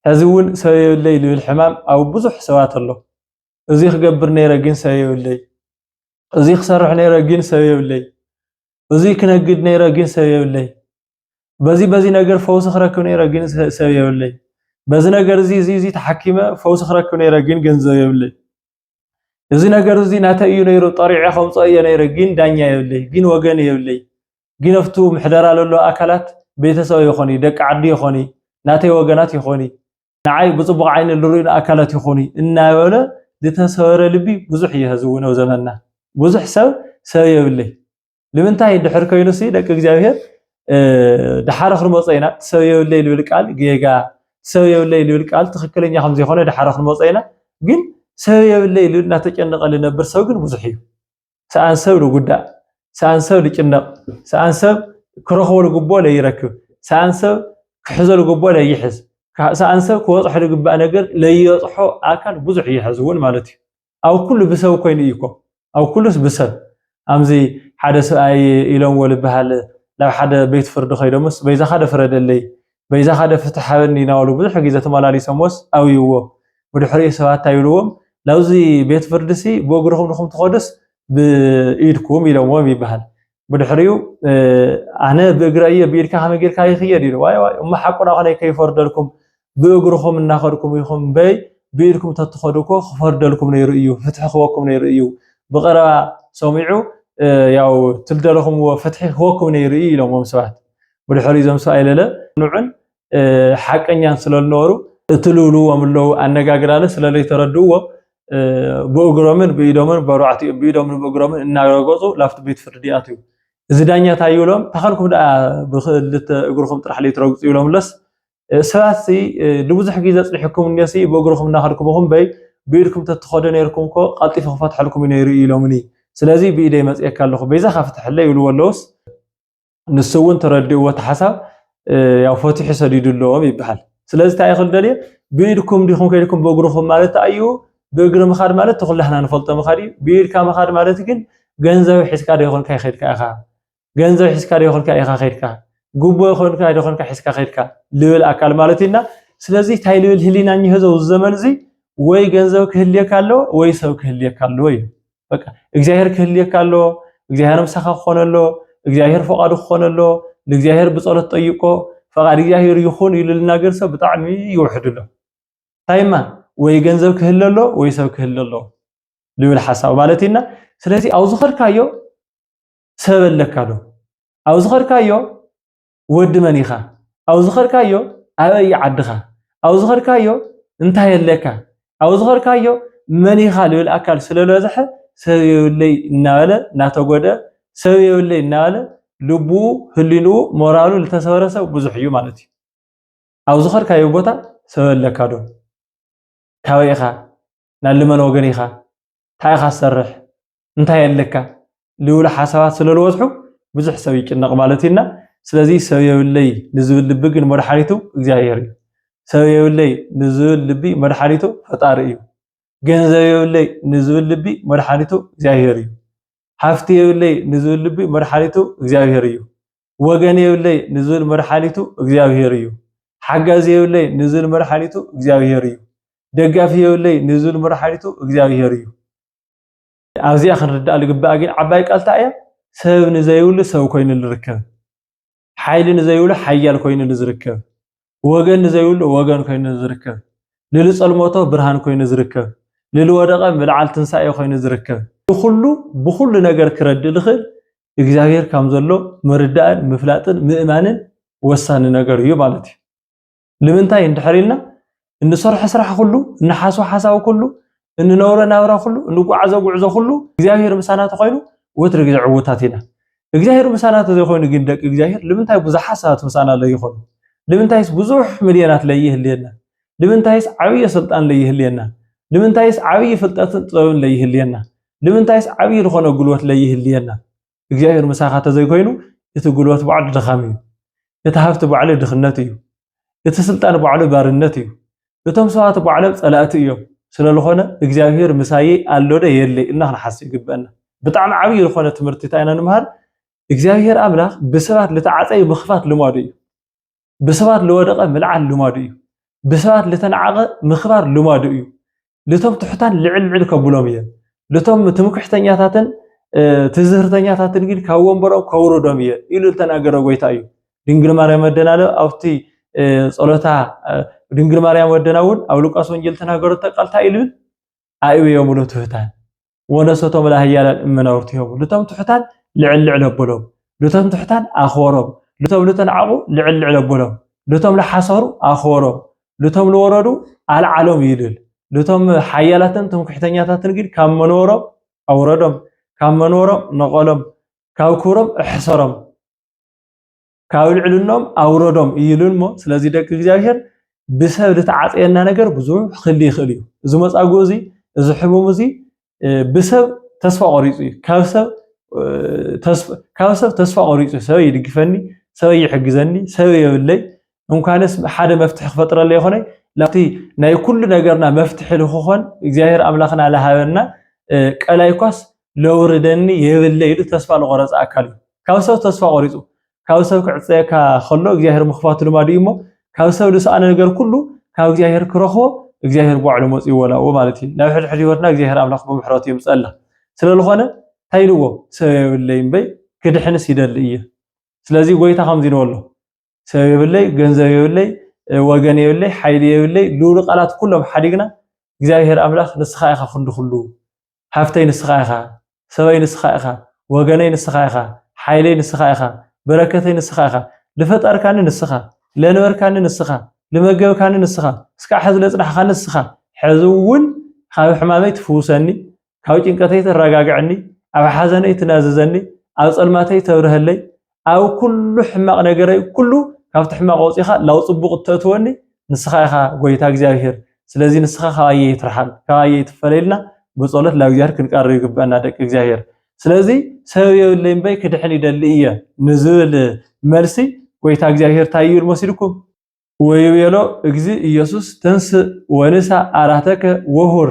ሕዚ እውን ሰብ የብለይ ልብል ሕማም ኣብ ብዙሕ ሰባት ኣሎ። እዙይ ክገብር ነይረ ግን ሰብ የብለይ፣ እዙይ ክሰርሕ ነይረ ግን ሰብ የብለይ፣ እዙይ ክነግድ ነይረ ግን ሰብ የብለይ፣ በዚ በዚ ነገር ፈውሲ ክረክብ ነይረ ግን ሰብ የብለይ፣ በዚ ነገር እዚ እዚ ተሓኪመ ፈውሲ ክረክብ ነይረ ግን ገንዘብ የብለይ። እዚ ነገር እዚ ናተይ እዩ ነይሩ ጠሪዐ ከውፀኦ እየ ነይረ ግን ዳኛ የብለይ ግን ወገን የብለይ ግን ኣብቱ ምሕደራ ለሎ ኣካላት ቤተሰበ ይኾኒ ደቂ ዓዲ ይኾኒ ናተይ ወገናት ይኾኒ ንዓይ ብፅቡቕ ዓይኒ ልርኡን ኣካላት ይኹኒ እናበለ ዝተሰበረ ልቢ ብዙሕ እየ ህዝዊ ነው ዘመና ብዙሕ ሰብ ሰብ የብለይ ንምንታይ ድሕር ኮይኑ ሲ ደቂ እግዚኣብሔር ድሓረ ክንመጾ ኢና ሰብ የብለይ ልብል ቃል ጌጋ ሰብ የብለይ ልብል ቃል ትክክለኛ ከም ዘይኮነ ድሓረ ክንመጾ ኢና ግን ሰብ የብለይ ልብል እናተጨነቀ ልነብር ሰብ ግን ብዙሕ እዩ ሰኣን ሰብ ልጉዳእ ሰኣን ሰብ ልጭነቅ ሰኣን ሰብ ክረክቦ ልግቦ ለይረክብ ሰኣን ሰብ ክሕዞ ልግቦ ለይሕዝ ሰኣን ሰብ ክበፅሖ ልግባእ ነገር ለይበፅሖ ኣካል ብዙሕ እዩ ሕዚ እውን ማለት እዩ ኣብ ኩሉ ብሰብ ኮይኑ እዩኮ ኣብ ኩሉስ ብሰብ ኣምዚ ሓደ ስብኣይ ኢሎምዎ ልበሃል ናብ ሓደ ቤት ፍርዲ ከይዶምስ በይዛኻዶ ፍረደለይ በይዛኻዶ ፍትሕ ሃበኒ ናበሉ ብዙሕ ግዜ ተመላሊሶምዎስ ኣብይዎ ብድሕሪኡ ሰባት ታይ ብልዎም ናብዚ ቤት ፍርዲሲ ብእግርኹም ድኹም ትኸዱስ ብኢድኩም ኢሎምዎም ይበሃል ብድሕሪኡ ኣነ ብእግረ እየ ብኢድካ ከመይ ጌርካ ይኽየድ ኢሉ ዋይ ዋይ እሞ ሓቁና ኮነ ከይፈርደልኩም ብእግርኹም እናኸድኩም ኢኹም በይ ብኢድኩም ተትኸዱ እኮ ክፈርደልኩም ነይሩ እዩ ፍትሒ ክወኩም ነይሩ እዩ ብቐረባ ሰሚዑ ያው ትልደለኹምዎ ፍትሒ ክወኩም ነይሩ እዩ ኢሎምዎም ሰባት ብድሕሪ እዞም ሰብኣይ ለለ ንዑን ሓቀኛን ስለልነበሩ እትልውልዎም ኣለዉ ኣነጋግራለ ስለለይተረድእዎ ብእግሮምን ብኢዶምን በርባዕቲኡ ብኢዶምን ብእግሮምን እናረገፁ ላፍቲ ቤት ፍርዲ ኣትዩ እዚ ዳኛ እንታይ ይብሎም ተኸልኩም ደኣ ብክልተ እግርኹም ጥራሕ ለይትረግፁ ይብሎምለስ ሰባት ንብዙሕ ግዜ ፅኒሕኩም እኒሲ ብእግርኹም እናኸድኩም ኹም በይ ብኢድኩም ተትኸዱ ነይርኩም እኮ ቀልጢፈ ክፈትሐልኩም ነይሩ ኢሎምኒ ስለዚ ብኢደይ መፅኤካ ኣለኹ በይዛኻ ፍትሐለይ ይብልዎ ኣለውስ ንሱ እውን ተረዲእዎ እቲ ሓሳብ ያው ፈቲሑ ሰዲዱለዎም ይበሃል። ስለዚ እንታይ ይኽእል ደልየ ብኢድኩም ዲኹም ከይድኩም በእግርኹም ማለት ኣዩ ብእግሪ ምኻድ ማለት ተኹላህና ንፈልጦ ምኻድ እዩ። ብኢድካ ምኻድ ማለት ግን ገንዘብ ሒዝካ ዶ ይኾንካ ይኸድካ ኢኻ ገንዘብ ሒዝካ ዶ ይኾንካ ኢኻ ከድካ ጉቦ ይኾንካ ዶ ይኾንካ ሒዝካ ከድካ ልብል ኣካል ማለት እዩና ስለዚ እንታይ ልብል ህሊና እኒሆ እዚ ዘመን እዚ ወይ ገንዘብ ክህልየካ ኣለዎ ወይ ሰብ ክህልየካ ኣለዎ እዩ። በቃ እግዚኣብሔር ክህልየካ ኣሎ እግዚኣብሔር ምሳኻ ክኾነ ኣሎ እግዚኣብሔር ፈቃዱ ክኾነ ኣሎ ንእግዚኣብሔር ብጸሎት ጠይቆ ፈቃድ እግዚኣብሔር ይኹን ኢሉ ልናገር ሰብ ብጣዕሚ ይውሕድ ኣሎ ታይማ ወይ ገንዘብ ክህለ ኣሎ ወይ ሰብ ክህለ ኣሎ ልብል ሓሳብ ማለት ኢና ስለዚ ኣብ ዝኸድካዮ ሰብ ኣለካ ዶ ኣብ ዝኸድካዮ ወዲ መን ኢኻ? ኣብ ዝኸድካዮ ኣበይ እዩ ዓድኻ? ኣብ ዝኸድካዮ እንታይ ኣለካ? ኣብ ዝኸድካዮ መን ኢኻ ልብል ኣካል ስለለዝሐ ሰብ የብለይ እናበለ እናተጎድኣ ሰብ የብለይ እናበለ ልቡ ህሊንኡ ሞራሉ ዝተሰበረ ሰብ ብዙሕ እዩ ማለት እዩ። ኣብ ዝኸድካዮ ቦታ ሰብ ኣለካ ዶ? ካበይ ኢኻ? ናሊ መን ወገን ኢኻ እንታይ ኢኻ ትሰርሕ እንታይ ኣለካ ልብሉ ሓሳባት ስለዝበዝሑ ብዙሕ ሰብ ይጭነቕ ማለት እዩና ስለዚ ሰብ የብለይ ንዝብል ልቢ ግን መድሓኒቱ እግዚኣብሔር እዩ ሰብ የብለይ ንዝብል ልቢ መድሓኒቱ ፈጣሪ እዩ ገንዘብ የብለይ ንዝብል ልቢ መድሓኒቱ እግዚኣብሔር እዩ ሃፍቲ የብለይ ንዝብል ልቢ መድሓኒቱ እግዚኣብሔር እዩ ወገን የብለይ ንዝብል መድሓኒቱ እግዚኣብሄር እዩ። ሓጋዚ የብለይ ንዝብል መድሓኒቱ እግዚኣብሄር እዩ። ደጋፊ የብለይ ንዝብል መድሓኒቱ እግዚኣብሄር እዩ። ኣብዚኣ ክንርዳእ ዝግባእ ግን ዓባይ ቃል እንታይ እያ? ሰብ ንዘይብሉ ሰብ ኮይኑ ዝርከብ፣ ሓይሊ ንዘይብሉ ሓያል ኮይኑ ዝርከብ፣ ወገን ንዘይብሉ ወገን ኮይኑ ዝርከብ፣ ንልጸልሞቶ ብርሃን ኮይኑ ዝርከብ፣ ንልወደቐ ምልዓል ትንሳኤ ኮይኑ ዝርከብ፣ ንኹሉ ብኹሉ ነገር ክረድእ ዝኽእል እግዚኣብሔር ካም ዘሎ ምርዳእን ምፍላጥን ምእማንን ወሳኒ ነገር እዩ ማለት እዩ። ንምንታይ እንድሕር ኢልና እንሰርሖ ስራሕ ኩሉ፣ እንሓስቦ ሓሳብ ኩሉ እንነብሮ ናብራ ኩሉ እንጓዓዞ ጉዕዞ ኩሉ እግዚኣብሄር ምሳና ተኾይኑ ወትሪ ግዜ ዕውታት ኢና። እግዚኣብሄር ምሳና ተዘይኮይኑ ግን ደቂ እግዚኣብሄር ልምንታይ ብዙሓት ሰባት ምሳና ለይኾኑ? ልምንታይስ ብዙሕ ሚልዮናት ለይህልየና? ልምንታይስ ዓብዪ ስልጣን ለይህልየና? ልምንታይስ ዓብዪ ፍልጠትን ጥበብን ለይህልየና? ልምንታይስ ዓብዪ ዝኾነ ጉልበት ለይህልየና? እግዚኣብሔር ምሳኻ ተዘይኮይኑ እቲ ጉልበት ባዕሉ ድኻም እዩ። እቲ ሃብቲ ባዕሉ ድኽነት እዩ። እቲ ስልጣን ባዕሉ ባርነት እዩ። እቶም ሰባት ባዕሎም ጸላእቲ እዮም። ስለዝኾነ እግዚኣብሔር ምሳየይ ኣሎደ የለይ እና ክንሓስብ ይግበአና። ብጣዕሚ ዓብይ ዝኾነ ትምህርቲ እንታይ ኢና ንምሃር እግዚኣብሔር ኣምላኽ ብሰባት ልተዓፀዩ ምኽፋት ልማዱ እዩ። ብሰባት ልወደቐ ምልዓል ልማዱ እዩ። ብሰባት ልተናዕቐ ምኽባር ልማዱ እዩ። ልቶም ትሑታን ልዕል ልዕል ከብሎም እየ። ልቶም ትምክሕተኛታትን ትዝህርተኛታትን ግን ካብ ወንበሮም ከውርዶም እየ ኢሉ ዝተናገረ ጎይታ እዩ። ድንግል ማርያም ወደና ለ ኣብቲ ጸሎታ ድንግል ማርያም ወደና እውን ኣብ ሉቃስ ወንጌል ተናገረቶ ቃል እንታይ እዩ ልብል ኣእብዮም ትሑታን ወነሰቶም ለሃያላን እመናውርት ይሀቡ፣ ልቶም ትሑታን ልዕል ልዕል ኣቦሎም፣ ልቶም ትሑታን ኣኽበሮም፣ ልቶም ልተናዕቑ ልዕል ልዕል ኣቦሎም፣ ልቶም ለሓሰሩ ኣኽበሮም፣ ልቶም ልወረዱ ኣልዓሎም እዩ ልል። ልቶም ሓያላትን ትምክሕተኛታትን ግን ካብ መንበሮም ኣውረዶም፣ ካብ መንበሮም ነቐሎም፣ ካብ ክብሮም እሕሰሮም። ካብ ልዕልኖም ኣውረዶም እዩ ኢሉ እሞ ስለዚ ደቂ እግዚኣብሔር ብሰብ ዝተዓፀየና ነገር ብዙሕ ክሊ ይኽእል እዩ እዚ መፃጉእ እዚ እዚ ሕሙም እዚ ብሰብ ተስፋ ቆሪፁ እዩ ካብ ሰብ ካብ ሰብ ተስፋ ቆሪፁ ሰብ ይድግፈኒ ሰብ ይሕግዘኒ ሰብ የብለይ እንኳንስ ሓደ መፍትሒ ክፈጥረለ ይኮነ ላብቲ ናይ ኩሉ ነገርና መፍትሒ ልክኾን እግዚኣብሔር ኣምላኽና ልሃበና ቀላይ ኳስ ለውርደኒ የብለ ኢሉ ተስፋ ልቆረፀ ኣካል እዩ ካብ ሰብ ተስፋ ቆሪፁ ካብ ሰብ ክዕፀየካ ከሎ እግዚኣብሔር ምኽፋቱ ልማዱ እዩ እሞ ካብ ሰብ ልስኣነ ነገር ኩሉ ካብ እግዚኣብሔር ክረኽቦ እግዚኣብሔር ባዕሉ መፅኡ ወላኡ ማለት እዩ ናብ ሕድሕድ ህይወትና እግዚኣብሔር ኣምላኽ ብምሕረቱ የምፀላ ስለዝኾነ እንታይ ኢልዎ ሰብ የብለይ እምበይ ክድሕንስ ይደሊ እየ ስለዚ ጎይታ ከምዚ ኢልዎ ኣሎ ሰብ የብለይ፣ ገንዘብ የብለይ፣ ወገን የብለይ፣ ሓይሊ የብለይ፣ ልኡሉ ቃላት ኩሎም ሓዲግና እግዚኣብሄር ኣምላኽ ንስኻ ኢኻ ክንዲ ኩሉ፣ ሃፍተይ ንስኻ ኢኻ፣ ሰበይ ንስኻ ኢኻ፣ ወገነይ ንስኻ ኢኻ፣ ሓይለይ ንስኻ ኢኻ፣ በረከተይ ንስኻ ኢኻ፣ ልፈጠርካኒ ንስኻ፣ ለንበርካኒ ንስኻ፣ ልመገብካኒ ንስኻ፣ እስካዕ ሕዚ ለጽናሕካኒ ንስኻ፣ ሕዚ እውን ካብ ሕማመይ ትፍውሰኒ፣ ካብ ጭንቀተይ ተረጋግዐኒ፣ ኣብ ሓዘነይ ትናዝዘኒ፣ ኣብ ጸልማተይ ተብርሀለይ፣ ኣብ ኩሉ ሕማቕ ነገረይ ኩሉ ካብቲ ሕማቕ ወፂኻ ላው ጽቡቕ እተእትወኒ ንስኻ ኢኻ ጎይታ እግዚኣብሔር ስለዚ ንስኻ ካባየ ይትርሓል ካባየ ይትፈለይልና ብጸሎት ላብ እግዚኣብሔር ክንቀርብ ይግበአና ደቂ እግዚኣብሔር ስለዚ ሰበብ የብለይ እምበይ ክድሕን ይደሊ እየ ንዝብል መልሲ ጎይታ እግዚኣብሔር እንታይ ይብል መሲልኩም ወይቤሎ እግዚ ኢየሱስ ተንስእ ወንሳ ኣራተከ ወሁር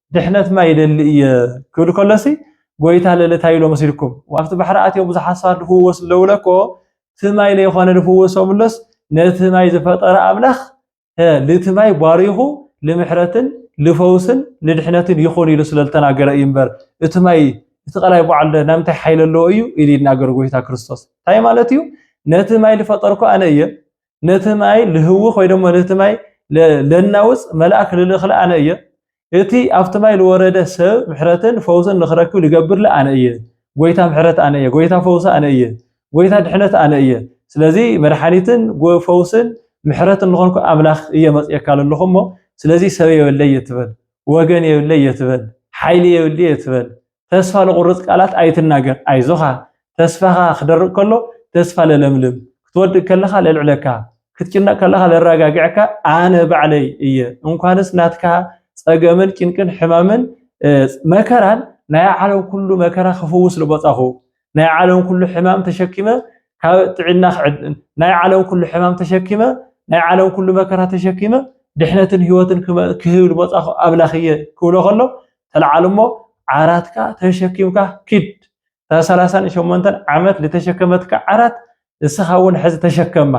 ድሕነትና ይደሊ እየ ክብል ከሎሲ ጎይታ ለለ ታይ ኢሎ መሲልኩም ኣብቲ ባሕሪ ኣትዮም ብዙሓት ሰባት ልፍወሱ ለውለኮ እቲ ማይ ለይኮነ ልፍወሶምሎስ ነቲ ማይ ዝፈጠረ ኣምላኽ ልቲ ማይ ባሪኹ ልምሕረትን ልፈውስን ልድሕነትን ይኹን ኢሉ ስለ ዝተናገረ እዩ እምበር እቲ ማይ እቲ ቀላይ በዓል ናይ ምንታይ ሓይሊ ኣለዎ እዩ ኢሉ ይናገር ጎይታ ክርስቶስ እንታይ ማለት እዩ ነቲ ማይ ዝፈጠርኩ ኣነ እየ ነቲ ማይ ልህውኽ ወይ ደሞ ነቲ ማይ ለናውፅ መልኣክ ልልእኽለ ኣነ እየ። እቲ ኣብቲ ማይ ልወረደ ሰብ ምሕረትን ፈውስን ንኽረክብ ልገብርለ ኣነ እየ። ጎይታ ምሕረት ኣነ እየ። ጎይታ ፈውሲ ኣነ እየ። ጎይታ ድሕነት ኣነ እየ። ስለዚ መድሓኒትን ፈውስን ምሕረትን ልኾንኩ ኣምላኽ እየ መፅኤካ ለለኹ እሞ ስለዚ ሰብ የብለይ እየ ትበል። ወገን የብለይ እየ ትበል። ሓይሊ የብለይ እየ ትበል። ተስፋ ልቑርጽ ቃላት ኣይትናገር ኣይዞኻ ተስፋኻ ክደርቕ ከሎ ተስፋ ለለምልም ክትወድቅ ከለኻ ለልዕለካ ክትጭነቅ ከለኻ ለራጋግዐካ ኣነ ባዕለይ እየ እንኳንስ ናትካ ጸገምን ጭንቅን ሕማምን መከራን ናይ ዓለም ኩሉ መከራ ክፍውስ ልቦጻኹ ናይ ዓለም ኩሉ ሕማም ተሸኪመ ካብ ጥዕና ናይ ዓለም ኩሉ ሕማም ተሸኪመ ናይ ዓለም ኩሉ መከራ ተሸኪመ ድሕነትን ህይወትን ክህብ ዝመጻኹ ኣምላኽ እየ ክብሎ ከሎ ተለዓሉ እሞ ዓራትካ ተሸኪምካ ኪድ እታ ሰላሳን ሸሞንተን ዓመት ዝተሸከመትካ ዓራት ንስኻ እውን ሕዚ ተሸከማ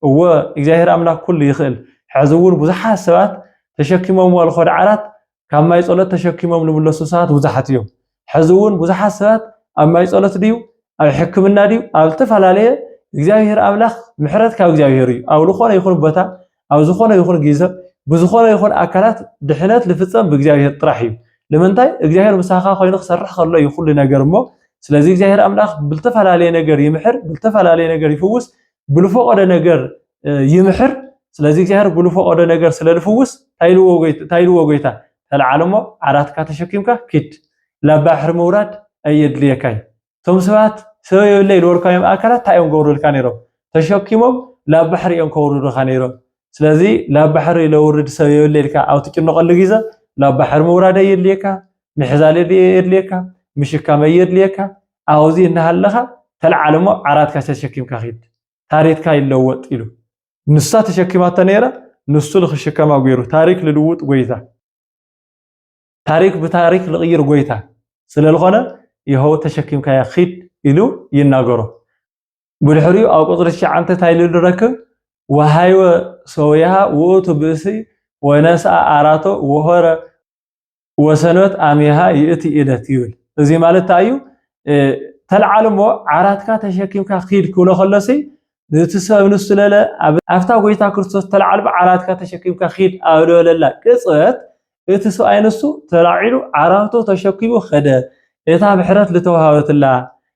እወ እግዚኣብሔር ኣምላክ ኩሉ ይኽእል ሕዚ እውን ብዙሓት ሰባት ተሸኪሞምዎ ዝኸዱ ዓራት ካብ ማይ ጸሎት ተሸኪሞም ልምለሱ ሰባት ብዙሓት እዮም። ሕዚ እውን ብዙሓት ሰባት ኣብ ማይ ጸሎት ድዩ ኣብ ሕክምና ድዩ ኣብ ዝተፈላለየ እግዚኣብሔር ኣምላኽ ምሕረት ካብ እግዚኣብሔር እዩ። ኣብ ዝኾነ ይኹን ቦታ ኣብ ዝኾነ ይኹን ግዘ ብዝኾነ ይኹን ኣካላት ድሕነት ልፍጸም ብእግዚኣብሔር ጥራሕ እዩ። ንምንታይ እግዚኣብሔር ምሳኻ ኮይኑ ክሰርሕ ከሎ እዩ ኩሉ ነገር እሞ ስለዚ እግዚኣብሔር ኣምላኽ ብልተፈላለየ ነገር ይምሕር ብልተፈላለየ ነገር ይፍውስ ብልፈቀደ ነገር ይምሕር ስለዚ እግዚኣብሔር ብልፈቀደ ነገር ስለልፍውስ ታይልዎ ጎይታ ተለዓለሞ ዓራትካ ተሸኪምካ ኪድ ላብ ባሕሪ ምውራድ ኣየድልየካይ እቶም ሰባት ሰብ የብለ ኢልወልካዮም ኣካላት እንታይ እዮም ገብሩልካ ነይሮም ተሸኪሞም ላብ ባሕሪ እዮም ከውርዱካ ነይሮም ስለዚ ላብ ባሕሪ ለውርድ ሰብ የብለ ኢልካ ኣብ ትጭነቀሉ ግዘ ላብ ባሕሪ ምውራድ ኣየድልየካ ምሕዛል የድልየካ ምሽካም ኣየድልየካ ኣውዚ እናሃለኻ ተልዓል እሞ ዓራትካ ተሸኪምካ ኪድ ታሪትካ ይለወጥ ኢሉ ንሳ ተሸኪማቶ ነይራ ንሱ ልክሽከማ ገይሩ ታሪክ ልልውጥ ጎይታ ታሪክ ብታሪክ ልቕይር ጎይታ ስለልኾነ ይኸው ተሸኪምካያ ኪድ ኢሉ ይናገሮ ብድሕሪኡ ኣብ ቁፅሪ ትሽዓንተ እንታይ ኢሉ ንረክብ ወሃይወ ሰውያሃ ውእቱ ብእሲ ወነስኣ ኣራቶ ወሆረ ወሰሎት ኣሜሃ ይእቲ ኢለት ይብል እዚ ማለት እንታይ እዩ ተልዓል እሞ ዓራትካ ተሸኪምካ ኪድ ክብሎ ከሎሲ ነቲ ሰብ ንሱ ለለ ኣብታ ጎይታ ክርስቶስ ተልዓል ዓራትካ ተሸኪምካ ኪድ ኣብ ልበለላ ቅፅበት እቲ ሰብኣይ ንሱ ተላዒሉ ዓራቱ ተሸኪሙ ከደ እታ ብሕረት ዝተዋሃበትላ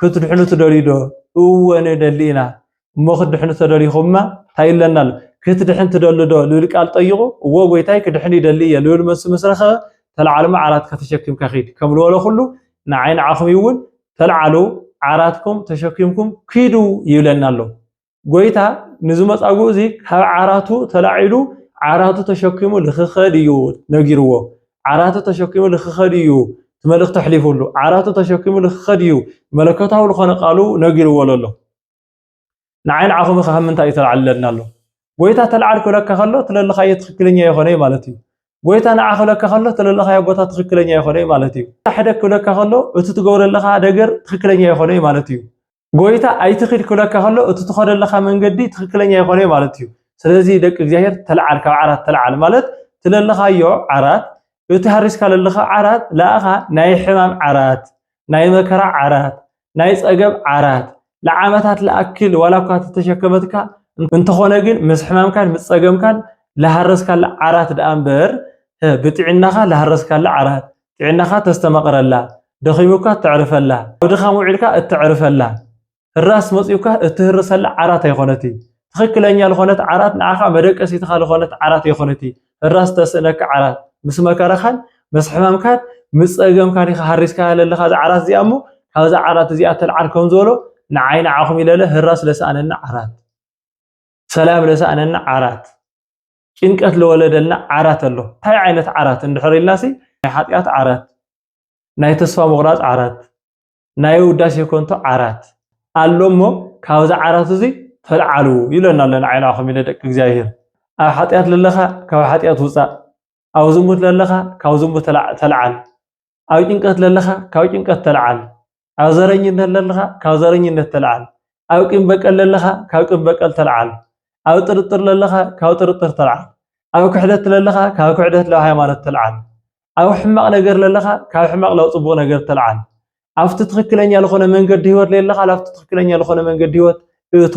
ክትድሕኑ ትደልዩ ዶ? እወ ንደሊ ኢና። እሞ ክትድሕኑ ተደሊኹማ እንታይ ኣለና ኣሎ? ክትድሕን ትደሊ ዶ? ልብል ቃል ጠይቑ። እወ ጐይታይ ክድሕን ይደሊ እየ ልብል መልሱ ምስ ረኸበ ተላዓልማ ዓራትካ ተሸኪምካ ኪድ ከም ልበሎ ኩሉ ንዓይ ንዓኹም እውን ተልዓሉ ዓራትኩም ተሸኪምኩም ኪዱ ይብለና ኣሎ። ጎይታ ንዚ መጻጉእ እዚ ካብ ዓራቱ ተላዒሉ ዓራቱ ተሸኪሙ ልክኸድ እዩ ነጊርዎ ዓራቱ ተሸኪሙ ልክኸድ እዩ መልእክቲ ኣሕሊፉሉ ዓራቱ ተሸኪሙ ልክኸድ እዩ መለኮታዊ ዝኾነ ቃሉ ነጊርዎ ለሎ ንዓይ ንዓኹም ኸ ምንታይ እዩ ተላዕለና ኣሎ ጎይታ ተልዓል ክብለካ ከሎ ትለለኻዮ ትኽክለኛ ይኾነ እዩ ማለት እዩ ጎይታ ንዓ ክብለካ ከሎ ትለለኻዮ ቦታ ትኽክለኛ ይኾነ እዩ ማለት እዩ ሕደግ ክብለካ ከሎ እቲ ትገብረለኻ ደገር ትኽክለኛ ይኾነ እዩ ማለት እዩ ጎይታ ኣይትኺድ ክብለካ ከሎ እቲ ትኸዶ ኣለኻ መንገዲ ትኽክለኛ ይኾነ ማለት እዩ። ስለዚ ደቂ እግዚኣብሔር ተልዓል ካብ ዓራት ተልዓል ማለት ትለለኻዮ ዓራት እቲ ሃሪስካ ለለኻ ዓራት ለኣኻ ናይ ሕማም ዓራት ናይ መከራ ዓራት ናይ ጸገብ ዓራት ለዓመታት ለኣክል ዋላ እኳ ተተሸከመትካ እንተኾነ ግን ምስ ሕማምካን ምስ ጸገምካን ለሃረስካላ ዓራት ደኣ እምበር ብጥዕናኻ ለሃረስካላ ዓራት ጥዕናኻ ተስተማቕረላ፣ ደኺሙካ እተዕርፈላ፣ ኣብ ድኻም ውዒልካ እተዕርፈላ፣ ህራስ መጺኡካ እትህርሰላ ዓራት ኣይኮነቲ። ትኽክለኛ ልኾነት ዓራት ንዓኻ መደቀሲትኻ ልኾነት ዓራት ኣይኮነቲ፣ ህራስ እተስእነካ ዓራት። ምስ መከራኻን ምስ ሕማምካን ምስ ጸገምካን ኢኻ ሃሪስካያ ለለኻ እዛ ዓራት እዚኣ እሞ ካብዛ ዓራት እዚኣ እተልዓል ከም ዝበሎ ንዓይ ንዓኹም ኢለለ ህራስ ለሰኣነኒ ዓራት፣ ሰላም ለሰኣነኒ ዓራት፣ ጭንቀት ለወለደልና ዓራት ኣሎ እንታይ ዓይነት ዓራት እንድሕር ኢልናሲ ናይ ሓጢኣት ዓራት ናይ ተስፋ ምቑራፅ ዓራት ናይ ውዳሴ ኮንቶ ዓራት ኣሎ እሞ ካብዚ ዓራት እዚ ተልዓሉ ይብለና ኣሎ ንዓይ ንዓኹም ኢለ ደቂ እግዚኣብሄር ኣብ ሓጢኣት ለለኻ ካብ ሓጢኣት ውፃእ ኣብ ዝሙት ለለኻ ካብ ዝሙት ተልዓል ኣብ ጭንቀት ለለኻ ካብ ጭንቀት ተለዓል፣ ኣብ ዘረኝነት ለለኻ ካብ ዘረኝነት ተለዓል፣ ኣብ ቂም በቀል ለለኻ ካብ ቂም በቀል ተለዓል፣ ኣብ ጥርጥር ለለኻ ካብ ጥርጥር ተለዓል፣ ኣብ ክሕደት ለለኻ ካብ ክሕደት ላብ ሃይማኖት ተለዓል፣ ኣብ ሕማቕ ነገር ለለኻ ካብ ሕማቕ ላብ ጽቡቕ ነገር ተለዓል፣ ኣብቲ ትኽክለኛ ዝኾነ መንገዲ ህይወት ለለኻ ላብቲ ትኽክለኛ ዝኾነ መንገዲ ህይወት እቶ።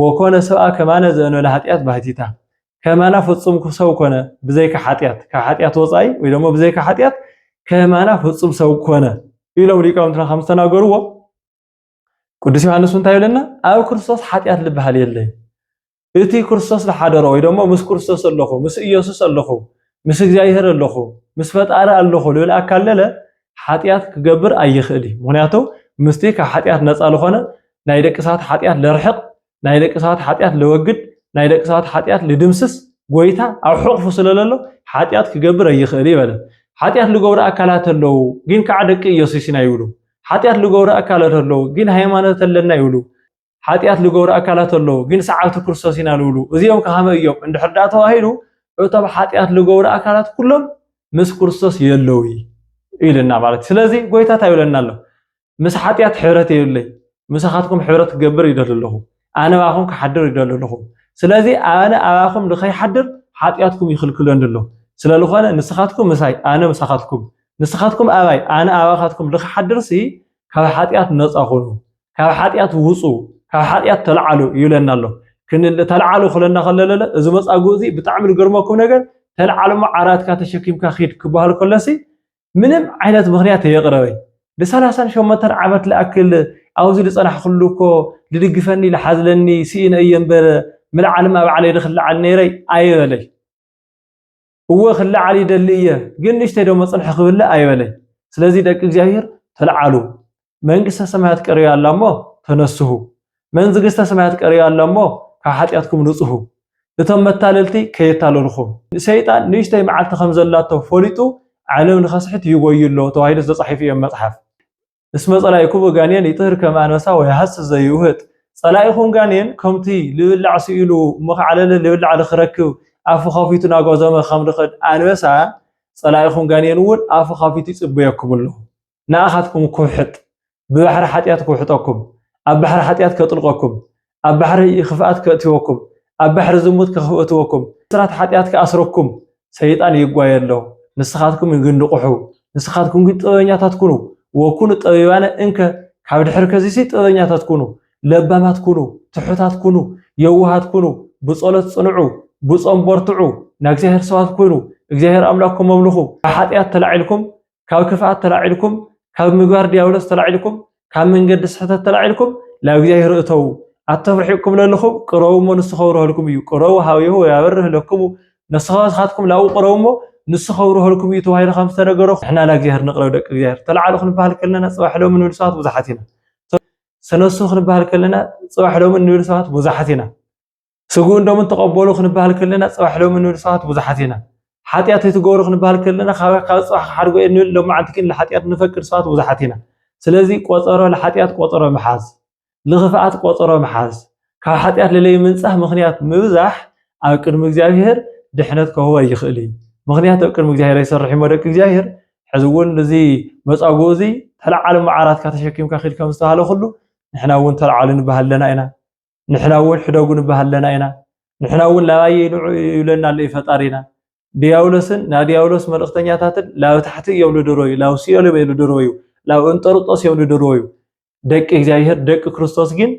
ወኮነ ሰብኣ ከማነ ዘእንበለ ኃጢኣት ባሕቲታ፣ ከማና ፍጹም ሰው ኮነ፣ ብዘይካ ኃጢኣት፣ ካብ ኃጢኣት ወጻኢ ወይ ደሞ ብዘይካ ኃጢኣት ከማና ፍጹም ሰው ኮነ ኢሎም ሊቃውንትና ከም ዝተናገርዎ ቅዱስ ዮሐንስ እንታይ ይብለና? ኣብ ክርስቶስ ኃጢኣት ልበሃል የለይ እቲ ክርስቶስ ዝሓደሮ ወይ ደሞ ምስ ክርስቶስ ኣለኹ ምስ ኢየሱስ ኣለኹ ምስ እግዚኣብሔር ኣለኹ ምስ ፈጣሪ ኣለኹ ልብል ኣካለለ ሓጢኣት ክገብር ኣይኽእል እዩ ምክንያቱ ምስቲ ካብ ሓጢኣት ነፃ ልኾነ ናይ ደቂ ሰባት ሓጢኣት ለርሕቅ ናይ ደቂ ሰባት ሓጢኣት ለወግድ ናይ ደቂ ሰባት ሓጢኣት ልድምስስ ጎይታ ኣብ ሕቕፉ ስለ ለሎ ሓጢኣት ክገብር ኣይኽእል ይበለ ሓጢኣት ልገብሩ ኣካላት ኣለዉ ግን ከዓ ደቂ ኢየሱስ ኢና ይብሉ ሓጢኣት ልገብሩ ኣካላት ኣለዉ ግን ሃይማኖት ኣለና ይብሉ ሓጢኣት ልገብሩ ኣካላት ኣለዉ ግን ሰዓብቲ ክርስቶስ ኢና ልብሉ እዚኦም ከሃመ እዮም እንድሕር ደኣ ተባሂሉ እቶም ሓጢኣት ልገብሩ ኣካላት ኩሎም ምስ ክርስቶስ የለዉ ኢልና ማለት ስለዚ ጎይታ እንታይ ይብለና ኣሎ ምስ ሓጢኣት ሕብረት የብለይ ምሳኻትኩም ሕብረት ክገብር ይደሊ ኣለኹ ኣነ ባኹም ክሓድር ይደሊ ኣለኹ ስለዚ ኣነ ኣባኹም ንኸይሓድር ሓጢኣትኩም ይኽልክለኒ ኣሎ ስለ ዝኾነ ንስኻትኩም ምሳይ ኣነ ምሳኻትኩም ንስኻትኩም ኣባይ ኣነ ኣባኻትኩም ንኽሓድርሲ ካብ ሓጢኣት ነፃ ኹኑ ካብ ሓጢኣት ውፁ ካብ ሓጢኣት ተልዓሉ ይብለና ኣሎ ተልዓሉ ክለና ከለለለ እዚ መፃጉእ እዚ ብጣዕሚ ዝገርመኩም ነገር ተልዓሉ እሞ ዓራትካ ተሸኪምካ ኪድ ክበሃል ከለሲ ምንም ዓይነት ምክንያት የቕረበይ ንሰላሳን ሸሞንተን ዓመት ልኣክል ኣብዚ ዝፀናሕኩሉ እኮ ዝድግፈኒ ዝሓዝለኒ ስኢነ እየ እምበር ምልዓልማ ባዕለይ ድክልዓል ነይረይ ኣይበለይ እወ ክለዓል ይደሊ እየ፣ ግን ንእሽተይ ደሞ ጽንሒ ክብልዕ ኣይበለይ። ስለዚ ደቂ እግዚኣብሔር ተለዓሉ፣ መንግሥተ ሰማያት ቀሪባ ኣላ እሞ ተነስሁ፣ መንዝግሥተ ሰማያት ቀሪባ ኣላ እሞ ካብ ኃጢኣትኩም ንጽሁ፣ እቶም መታለልቲ ከየታልልኹም። ሰይጣን ንእሽተይ መዓልቲ ከም ዘላቶ ፈሊጡ ዓለም ንኸስሕት ይጎዩ ኣሎ ተባሂሉ ተጻሒፉ እዩ ኣብ መጽሓፍ። እስመ ጸላኢኩሙ ጋኔን ይጥህር ከመ ኣንበሳ ወይሃስስ ዘይውህጥ ጸላኢኹም ጋኔን ከምቲ ልብላዕ ስኢሉ እሞ ከዓ ለለ ልብላዕ ልክረክብ ኣፉ ከፊቱ ናጓዘመ ከም ልኸድ ኣንበሳ ጸላኢኹም ጋኔን እውን ኣፉ ከፊቱ ይጽበየኩም ኣሎ ንኣኻትኩም ክውሕጥ ብባሕሪ ሓጢኣት ክውሕጠኩም ኣብ ባሕሪ ሓጢኣት ከጥልቐኩም ኣብ ባሕሪ ኽፍኣት ከእትወኩም፣ ኣብ ባሕሪ ዝሙት ከኽእትወኩም፣ ብስራት ሓጢኣት ክኣስረኩም ሰይጣን ይጓየ ኣሎ። ንስኻትኩም ግን ንቕሑ፣ ንስኻትኩም ግን ጥበበኛታት ኩኑ፣ ወኩኑ ጠቢባነ እንከ፣ ካብ ድሕሪ ከዚሲ ጥበበኛታት ኩኑ፣ ለባማት ኩኑ፣ ትሑታት ኩኑ፣ የዋሃት ኩኑ፣ ብጸሎት ጽንዑ፣ ብጾም በርትዑ፣ ናእግዚኣብሔር ሰባት ኩኑ፣ እግዚኣብሔር ኣምላክኩም ኣምልኹ፣ ካብ ሓጢኣት ተላዒልኩም ካብ ክፍኣት ተላዒልኩም ካብ ምግባር ዲያብሎስ ተላዒልኩም ካብ መንገዲ ስሕተት ተላዒልኩም ናብ እግዚኣብሔር እተዉ ኣቶም ርሒቕኩም ለለኹም ቅረቡ እሞ ንሱ ከብርሀልኩም እዩ ቅረቡ ሃብየሁ ወያበርህ ለክሙ ንስኻትኩም ናብኡ ቅረቡ እሞ ንሱ ከብርሀልኩም እዩ ተባሂሉ ከም ዝተነገሮ ንሕና ናብ እግዚኣብሔር ንቕረብ ደቂ እግዚኣብሔር ተላዕሉ ክንበሃል ከለና ፅባሕ ሎሚ ንብል ሰባት ብዙሓት ኢና ተነሱ ክንበሃል ከለና ፅባሕ ሎሚ ንብል ሰባት ብዙሓት ኢና ስግኡን ደሙን ተቐበሉ ክንበሃል ከለና ጽባሕ ሎሚ እንብል ሰባት ብዙሓት ኢና። ሓጢኣት ኣይትገብሩ ክንበሃል ከለና ካብ ካብ ጽባሕ ክሓድጎ እየ እንብል ሎማዓንቲ ግን ንሓጢኣት ንፈቅድ ሰባት ብዙሓት ኢና። ስለዚ ቆጸሮ ንሓጢኣት ቆጸሮ ምሓዝ፣ ንኽፍኣት ቆጸሮ ምሓዝ፣ ካብ ሓጢኣት ለለይ ምንጻህ ምኽንያት ምብዛሕ ኣብ ቅድሚ እግዚኣብሄር ድሕነት ከህቦ ኣይኽእል እዩ። ምኽንያት ኣብ ቅድሚ እግዚኣብሄር ኣይሰርሕ እሞ ደቂ እግዚኣብሄር ሕዚ እውን እዚ መጻጉ እዚ ተለዓሉ መዓራትካ ተሸኪምካ ኺድ ከም ዝተባሃለ ኩሉ ንሕና እውን ተለዓሉ ንበሃል ኣለና ኢና። ንሕና እውን ሕደጉ ንበሃል ኣለና ኢና ንሕና እውን ላባየ ንዑ ይብለና ኣሎ እዩ ፈጣሪና ዲያብሎስን ናይ ዲያብሎስ መልእኽተኛታትን ላብ ታሕቲ እዮም ልድረዩ ላብ ሲኦል እዮም ልድረዩ ላብ እንጠርጦስ እዮም ልድረዩ ደቂ እግዚኣብሔር ደቂ ክርስቶስ ግን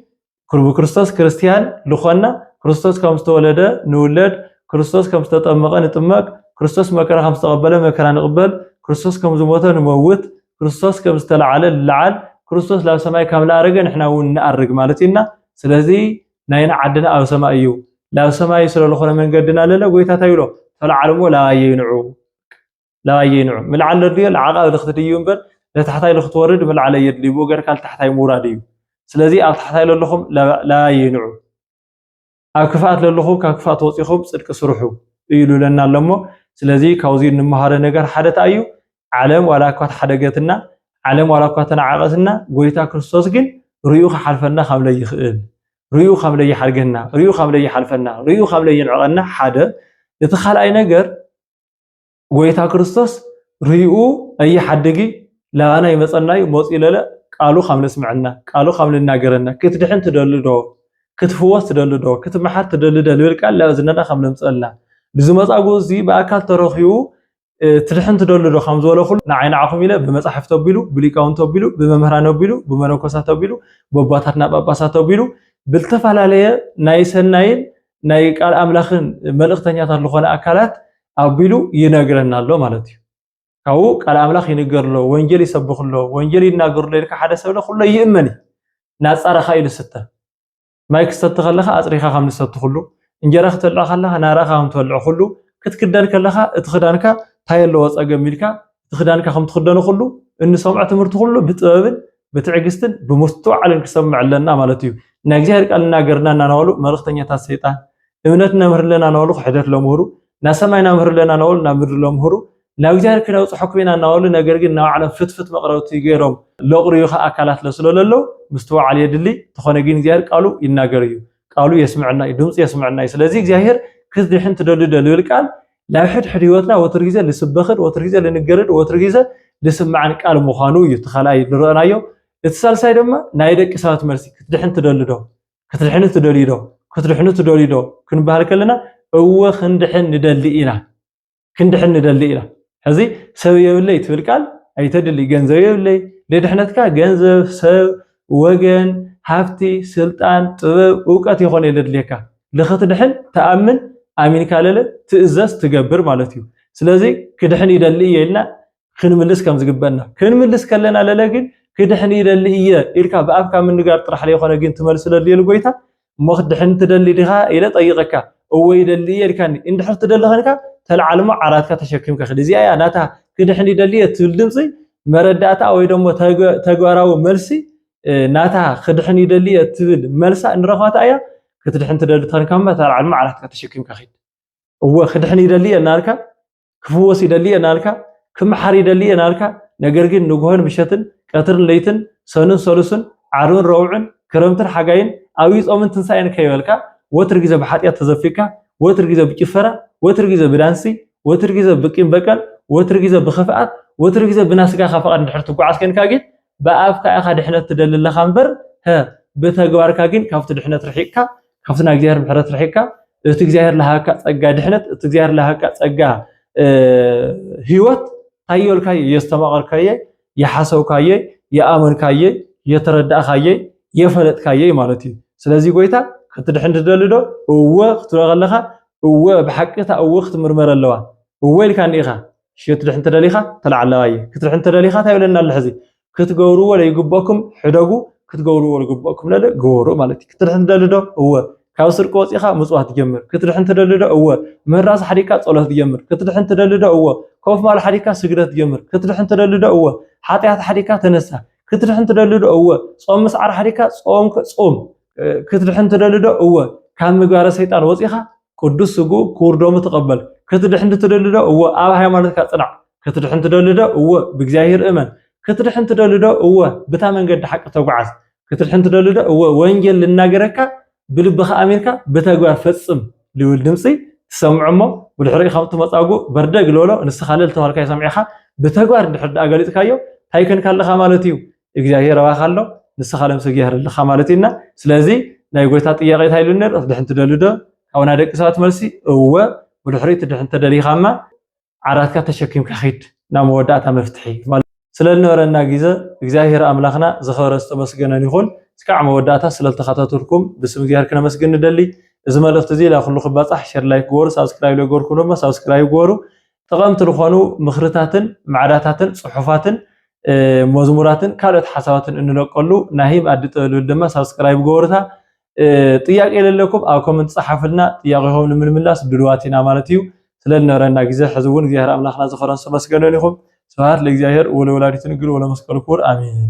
ብክርስቶስ ክርስቲያን ልኾና ክርስቶስ ከም ዝተወለደ ንውለድ ክርስቶስ ከም ዝተጠመቐ ንጥመቅ ክርስቶስ መከራ ከም ዝተቐበለ መከራ ንቕበል ክርስቶስ ከም ዝሞተ ንመውት ክርስቶስ ከም ዝተላዓለ ንላዓል ክርስቶስ ናብ ሰማይ ከም ዝኣረገ ንሕና ውን ንኣርግ ማለት እዩ እና ስለዚ ናይና ዓድና ኣብ ሰማይ እዩ ናብ ሰማይ ስለዝኾነ መንገድና ለለ ጎይታ እንታይ ይብሎ ተላዓል እሞ ላባየይ ንዑ ላባየይ ንዑ ምልዓል ለድልዮ ንዓቓብ ልክትድይብ እምበር ለታሕታይ ልክትወርድ ምልዓል ኣየድልዩ ብኡ ገርካ ልታሕታይ ምውራድ እዩ ስለዚ ኣብ ታሕታይ ለለኹም ላባየይ ንዑ ኣብ ክፍኣት ለለኹም ካብ ክፍኣት ወፂኹም ፅድቂ ስርሑ እዩ ልብለና ኣሎ እሞ ስለዚ ካብዚ እንመሃሮ ነገር ሓደ እንታይ እዩ ዓለም ዋላ እኳ ተሓደገትና ዓለም ዋላ እኳ ተናዓቐትና ጎይታ ክርስቶስ ግን ርኡ ክሓልፈና ካብ ለይኽእል ርኡ ካብ ለይሓድገና ርኡ ካብ ለይሓልፈና ርኡ ካብ ለይንዕቐና ሓደ እቲ ካልኣይ ነገር ጎይታ ክርስቶስ ርኡ ኣየ ሓድጊ ለኣና ይመጸናዩ መጽኡ ለለ ቃሉ ኻም ነስምዐና ቃሉ ኻም ንናገረና ክትድሕን ትደሊ ዶ ክትፍወስ ትደሊ ዶ ክትመሓር ትደሊ ዶ ልብል ቃል ላብ እዝነና ኻም ነምጸልና እዚ መጻጉ እዚ ብኣካል ተረኺቡ ትድሕን ትደሊ ዶ ኻም ዝበለ ኹሉ ንዓይ ንዓኹም ኢለ ብመጻሕፍቲ ኣቢሉ ብሊቃውንቲ ኣቢሉ ብመምህራን ኣቢሉ ብመነኮሳት ኣቢሉ በቦታትና ጳጳሳት ኣቢሉ ብልተፈላለየ ናይ ሰናይን ናይ ቃል ኣምላኽን መልእኽተኛታት ዝኾነ ኣካላት ኣቢሉ ይነግረና ኣሎ ማለት እዩ ካብኡ ቃል ኣምላኽ ይንገር ኣሎ ወንጌል ይሰብኽ ኣሎ ወንጌል ይናገር ኣሎ ኢልካ ሓደ ሰብ ኩሎ ይእመን እዩ ናፃራኻ ኢሉ ስተ ማይ ክሰቲ ከለኻ ኣፅሪኻ ከም ዝሰቲ ኩሉ እንጀራ ክትበልዕ ከለኻ ናራኻ ከም ትበልዕ ኩሉ ክትክደን ከለኻ እቲ ክዳንካ እንታይ ኣለዎ ፀገም ኢልካ እቲ ክዳንካ ከም ትኽደኖ ኩሉ እንሰምዖ ትምህርቲ ኩሉ ብጥበብን ብትዕግስትን ብምስትውዓልን ክሰምዕ ኣለና ማለት እዩ። ናይ እግዚኣብሔር ቃል እናገርና እናናበሉ መልእኽተኛታት ሰይጣን እምነት ነምህር ኣለና እናበሉ ክሕደት ለምህሩ ናብ ሰማይ ናምህር ኣለና እናበሉ ናብ ምድሪ ለምህሩ ናብ እግዚኣብሔር ክነብፅሐኩም ኢና እናበሉ ነገር ግን ናብ ዓለም ፍትፍት መቕረብቲ ገይሮም ለቕርዩ ከ ኣካላት ለስሎ ለለው ምስትውዓል የድሊ ተኾነ ግን እግዚኣብሔር ቃሉ ይናገር እዩ ቃሉ የስምዕና እዩ ድምፂ የስምዕና እዩ ስለዚ እግዚኣብሔር ክትድሕን ትደልዶ ልብል ቃል ናይ ሕድሕድ ህይወትና ወትር ግዜ ልስበኽን ወትር ግዜ ልንገርን ወትር ግዜ ልስማዕን ቃል ምዃኑ እዩ እቲ ካልኣይ ንረእናዮ እቲ ሳልሳይ ድማ ናይ ደቂ ሰባት መልሲ ክትድሕን ትደሊ ዶ ክትድሕኒ ትደልዩ ዶ ክትድሕኑ ትደልዩ ዶ ክንበሃል ከለና እወ ክንድሕን ንደሊ ኢና ክንድሕን ንደሊ ኢና ሕዚ ሰብ የብለይ ትብል ቃል ኣይተድሊ ገንዘብ የብለይ ልድሕነትካ ገንዘብ ሰብ ወገን፣ ሃብቲ፣ ስልጣን፣ ጥበብ፣ እውቀት የኾነይ ለድልየካ። ልኽትድሕን ትኣምን፣ ኣሚንካ ለለ ትእዘዝ፣ ትገብር ማለት እዩ። ስለዚ ክድሕን ይደሊ እየ ኢልና ክንምልስ ከም ዝግበእና። ክንምልስ ከለና ለለ ግን ክድሕን ይደሊ እየ ኢልካ ብኣፍካ ምንጋር ጥራሕ ለይኾነ ግን ትመልስ ለድልየሉ ጎይታ እሞ ክትድሕን ትደሊ ዲኻ ኢለ ጠይቐካ እወ ይደሊ እየ ኢልካኒ እንድሕር ትደሊ ዄንካ ተልዓል እሞ ዓራትካ ተሸኪምካ ኺድ እዚኣ እያ ናታ ክድሕን ይደሊ እየ እትብል ድምፂ መረዳእታ ወይ ደሞ ተግባራዊ መልሲ ናታ ክድሕን ይደሊ እየ እትብል መልሳ እንረኽባታ እያ ክትድሕን ትደሊ ተንካማ ተልዓል እሞ ዓራትካ ተሸኪምካ ኺድ እወ ክድሕን ይደሊ እየ እናልካ ክፍወስ ይደሊ እየ እናልካ ክምሓር ይደሊ እየ እናልካ ነገር ግን ንግሆን ምሸትን ቀትርን ለይትን ሰኑን ሰሉስን ዓርብን ረቡዕን ክረምትን ሓጋይን ኣብይ ጾምን ትንሳኤን ከይበልካ ወትር ግዜ ብሓጢኣት ተዘፊካ ወትር ግዜ ብጭፈራ ወትር ግዜ ብዳንሲ ወትር ግዜ ብቂም በቀል ወትር ግዜ ብክፍኣት ወትር ግዜ ብናስጋኻ ፍቓድ እንድሕር ትጓዓዝ ኮንካ ግን ብኣፍካ ኢኻ ድሕነት ትደሊ ኣለኻ እምበር ብተግባርካ ግን ካብቲ ድሕነት ርሒቕካ ካብቲ ናይ እግዚኣብሔር ምሕረት ርሒቅካ እቲ እግዚኣብሔር ለሃካ ጸጋ ድሕነት እቲ እግዚኣብሔር ለሃካ ጸጋ ህይወት ታየልካየ የስተማቐርካየ የሓሰብካየ የኣመንካየ የተረዳእካየ የፈለጥካየ ማለት እዩ ስለዚ ጎይታ ክትድሕን ትደሊ ዶ እወ ክትብሎ ከለኻ እወ ብሓቂ እታ እወ ክትምርመር ኣለዋ እወ ኢልካኒ ኢኻ ክትድሕን ተደሊኻ ተላዕለዋየ ክትድሕን ተደሊኻ እንታይ ይብለና ኣሎ ሕዚ ክትገብርዎ ለይግበኩም ሕደጉ ክትገብርዎ ልግበኩም ለለ ግበሩ ማለት እዩ ክትድሕን ትደሊ ዶ እወ ካብ ስርቂ ወፂኻ ምፅዋት ጀምር ክትድሕን ትደሊ ዶ እወ ምህራስ ሓዲግካ ፀሎት ጀምር ክትድሕን ትደሊ ዶ እወ ኮፍ ማል ሓዲግካ ስግደት ጀምር ክትድሕን ትደሊ ዶ እወ ሓጢኣት ሓዲግካ ተነሳ ክትድሕን ትደሊ ዶ እወ ፆም ምስዓር ሓዲግካ ፆም ፆም ክትድሕን ትደሊ ዶ እወ ካብ ምግባረ ሰይጣን ወፂኻ ቅዱስ ስግኡ ክቡር ደሙ ተቐበል። ክትድሕን ትደሊ ዶ? እወ። ኣብ ሃይማኖትካ ጽናዕ። ክትድሕን ትደሊ ዶ? እወ። ብእግዚኣብሔር እመን። ክትድሕን ትደሊ ዶ? እወ። ብታ መንገዲ ሓቂ ተጓዓዝ። ክትድሕን ትደሊ ዶ? እወ። ወንጌል ልናገረካ ብልብኻ ኣሚንካ ብተግባር ፈጽም ልብል ድምጺ ትሰምዖ እሞ ብድሕሪኡ ከምቲ መጻጉእ በርደግ ልበሎ ንስኻ ልል ተባልካዮ ሰሚዕኻ ብተግባር እንድሕር ድኣ ገሊጽካዮ እንታይ ኮንካ ኣለኻ ማለት እዩ። እግዚኣብሔር ኣባኻ ኣሎ ንስኻ ለምሰ እግዚኣብሔር ኣለኻ ማለት እዩና ስለዚ ናይ ጎይታ ጥያቄ እንታይ ኢሉ ነይሩ ክትድሕን ትደልዩ ዶ ካብና ደቂ ሰባት መልሲ እወ ብድሕሪ ትድሕን ተደሊኻማ ዓራትካ ተሸኪምካ ኺድ ናብ መወዳእታ መፍትሒ ማለት ስለዝነበረና ግዘ እግዚኣብሔር ኣምላኽና ዝኸበረ ዝተመስገነን ይኹን እስካዕ መወዳእታ ስለዝተኸታተልኩም ብስም እግዚኣብሔር ክነመስግን ንደሊ እዚ መልእኽቲ እዚ ላኩሉ ክባፃሕ ሸር ላይክ ግበሩ ሳብስክራይብ ለገበርኩም ድማ ሳብስክራይብ ግበሩ ጠቐምቲ ልኾኑ ምኽርታትን ማዕዳታትን ጽሑፋትን መዝሙራትን ካልኦት ሓሳባትን እንለቀሉ ናሂም ኣዲ ጥበብ ልብል ድማ ሳብስክራይብ ገበሩታ ጥያቄ የለለኩም ኣብ ኮመንት ጸሓፍልና ጥያቄኹም ንምልምላስ ድልዋት ኢና ማለት እዩ ስለ ዝነበረና ግዜ ሕዚ እውን እግዚኣብሔር ኣምላኽና ዝኸረን ሰመስገነን ኢኹም ስብሃት ለእግዚኣብሔር ወለወላዲቱ ንግል ወለመስቀሉ ክቡር ኣሜን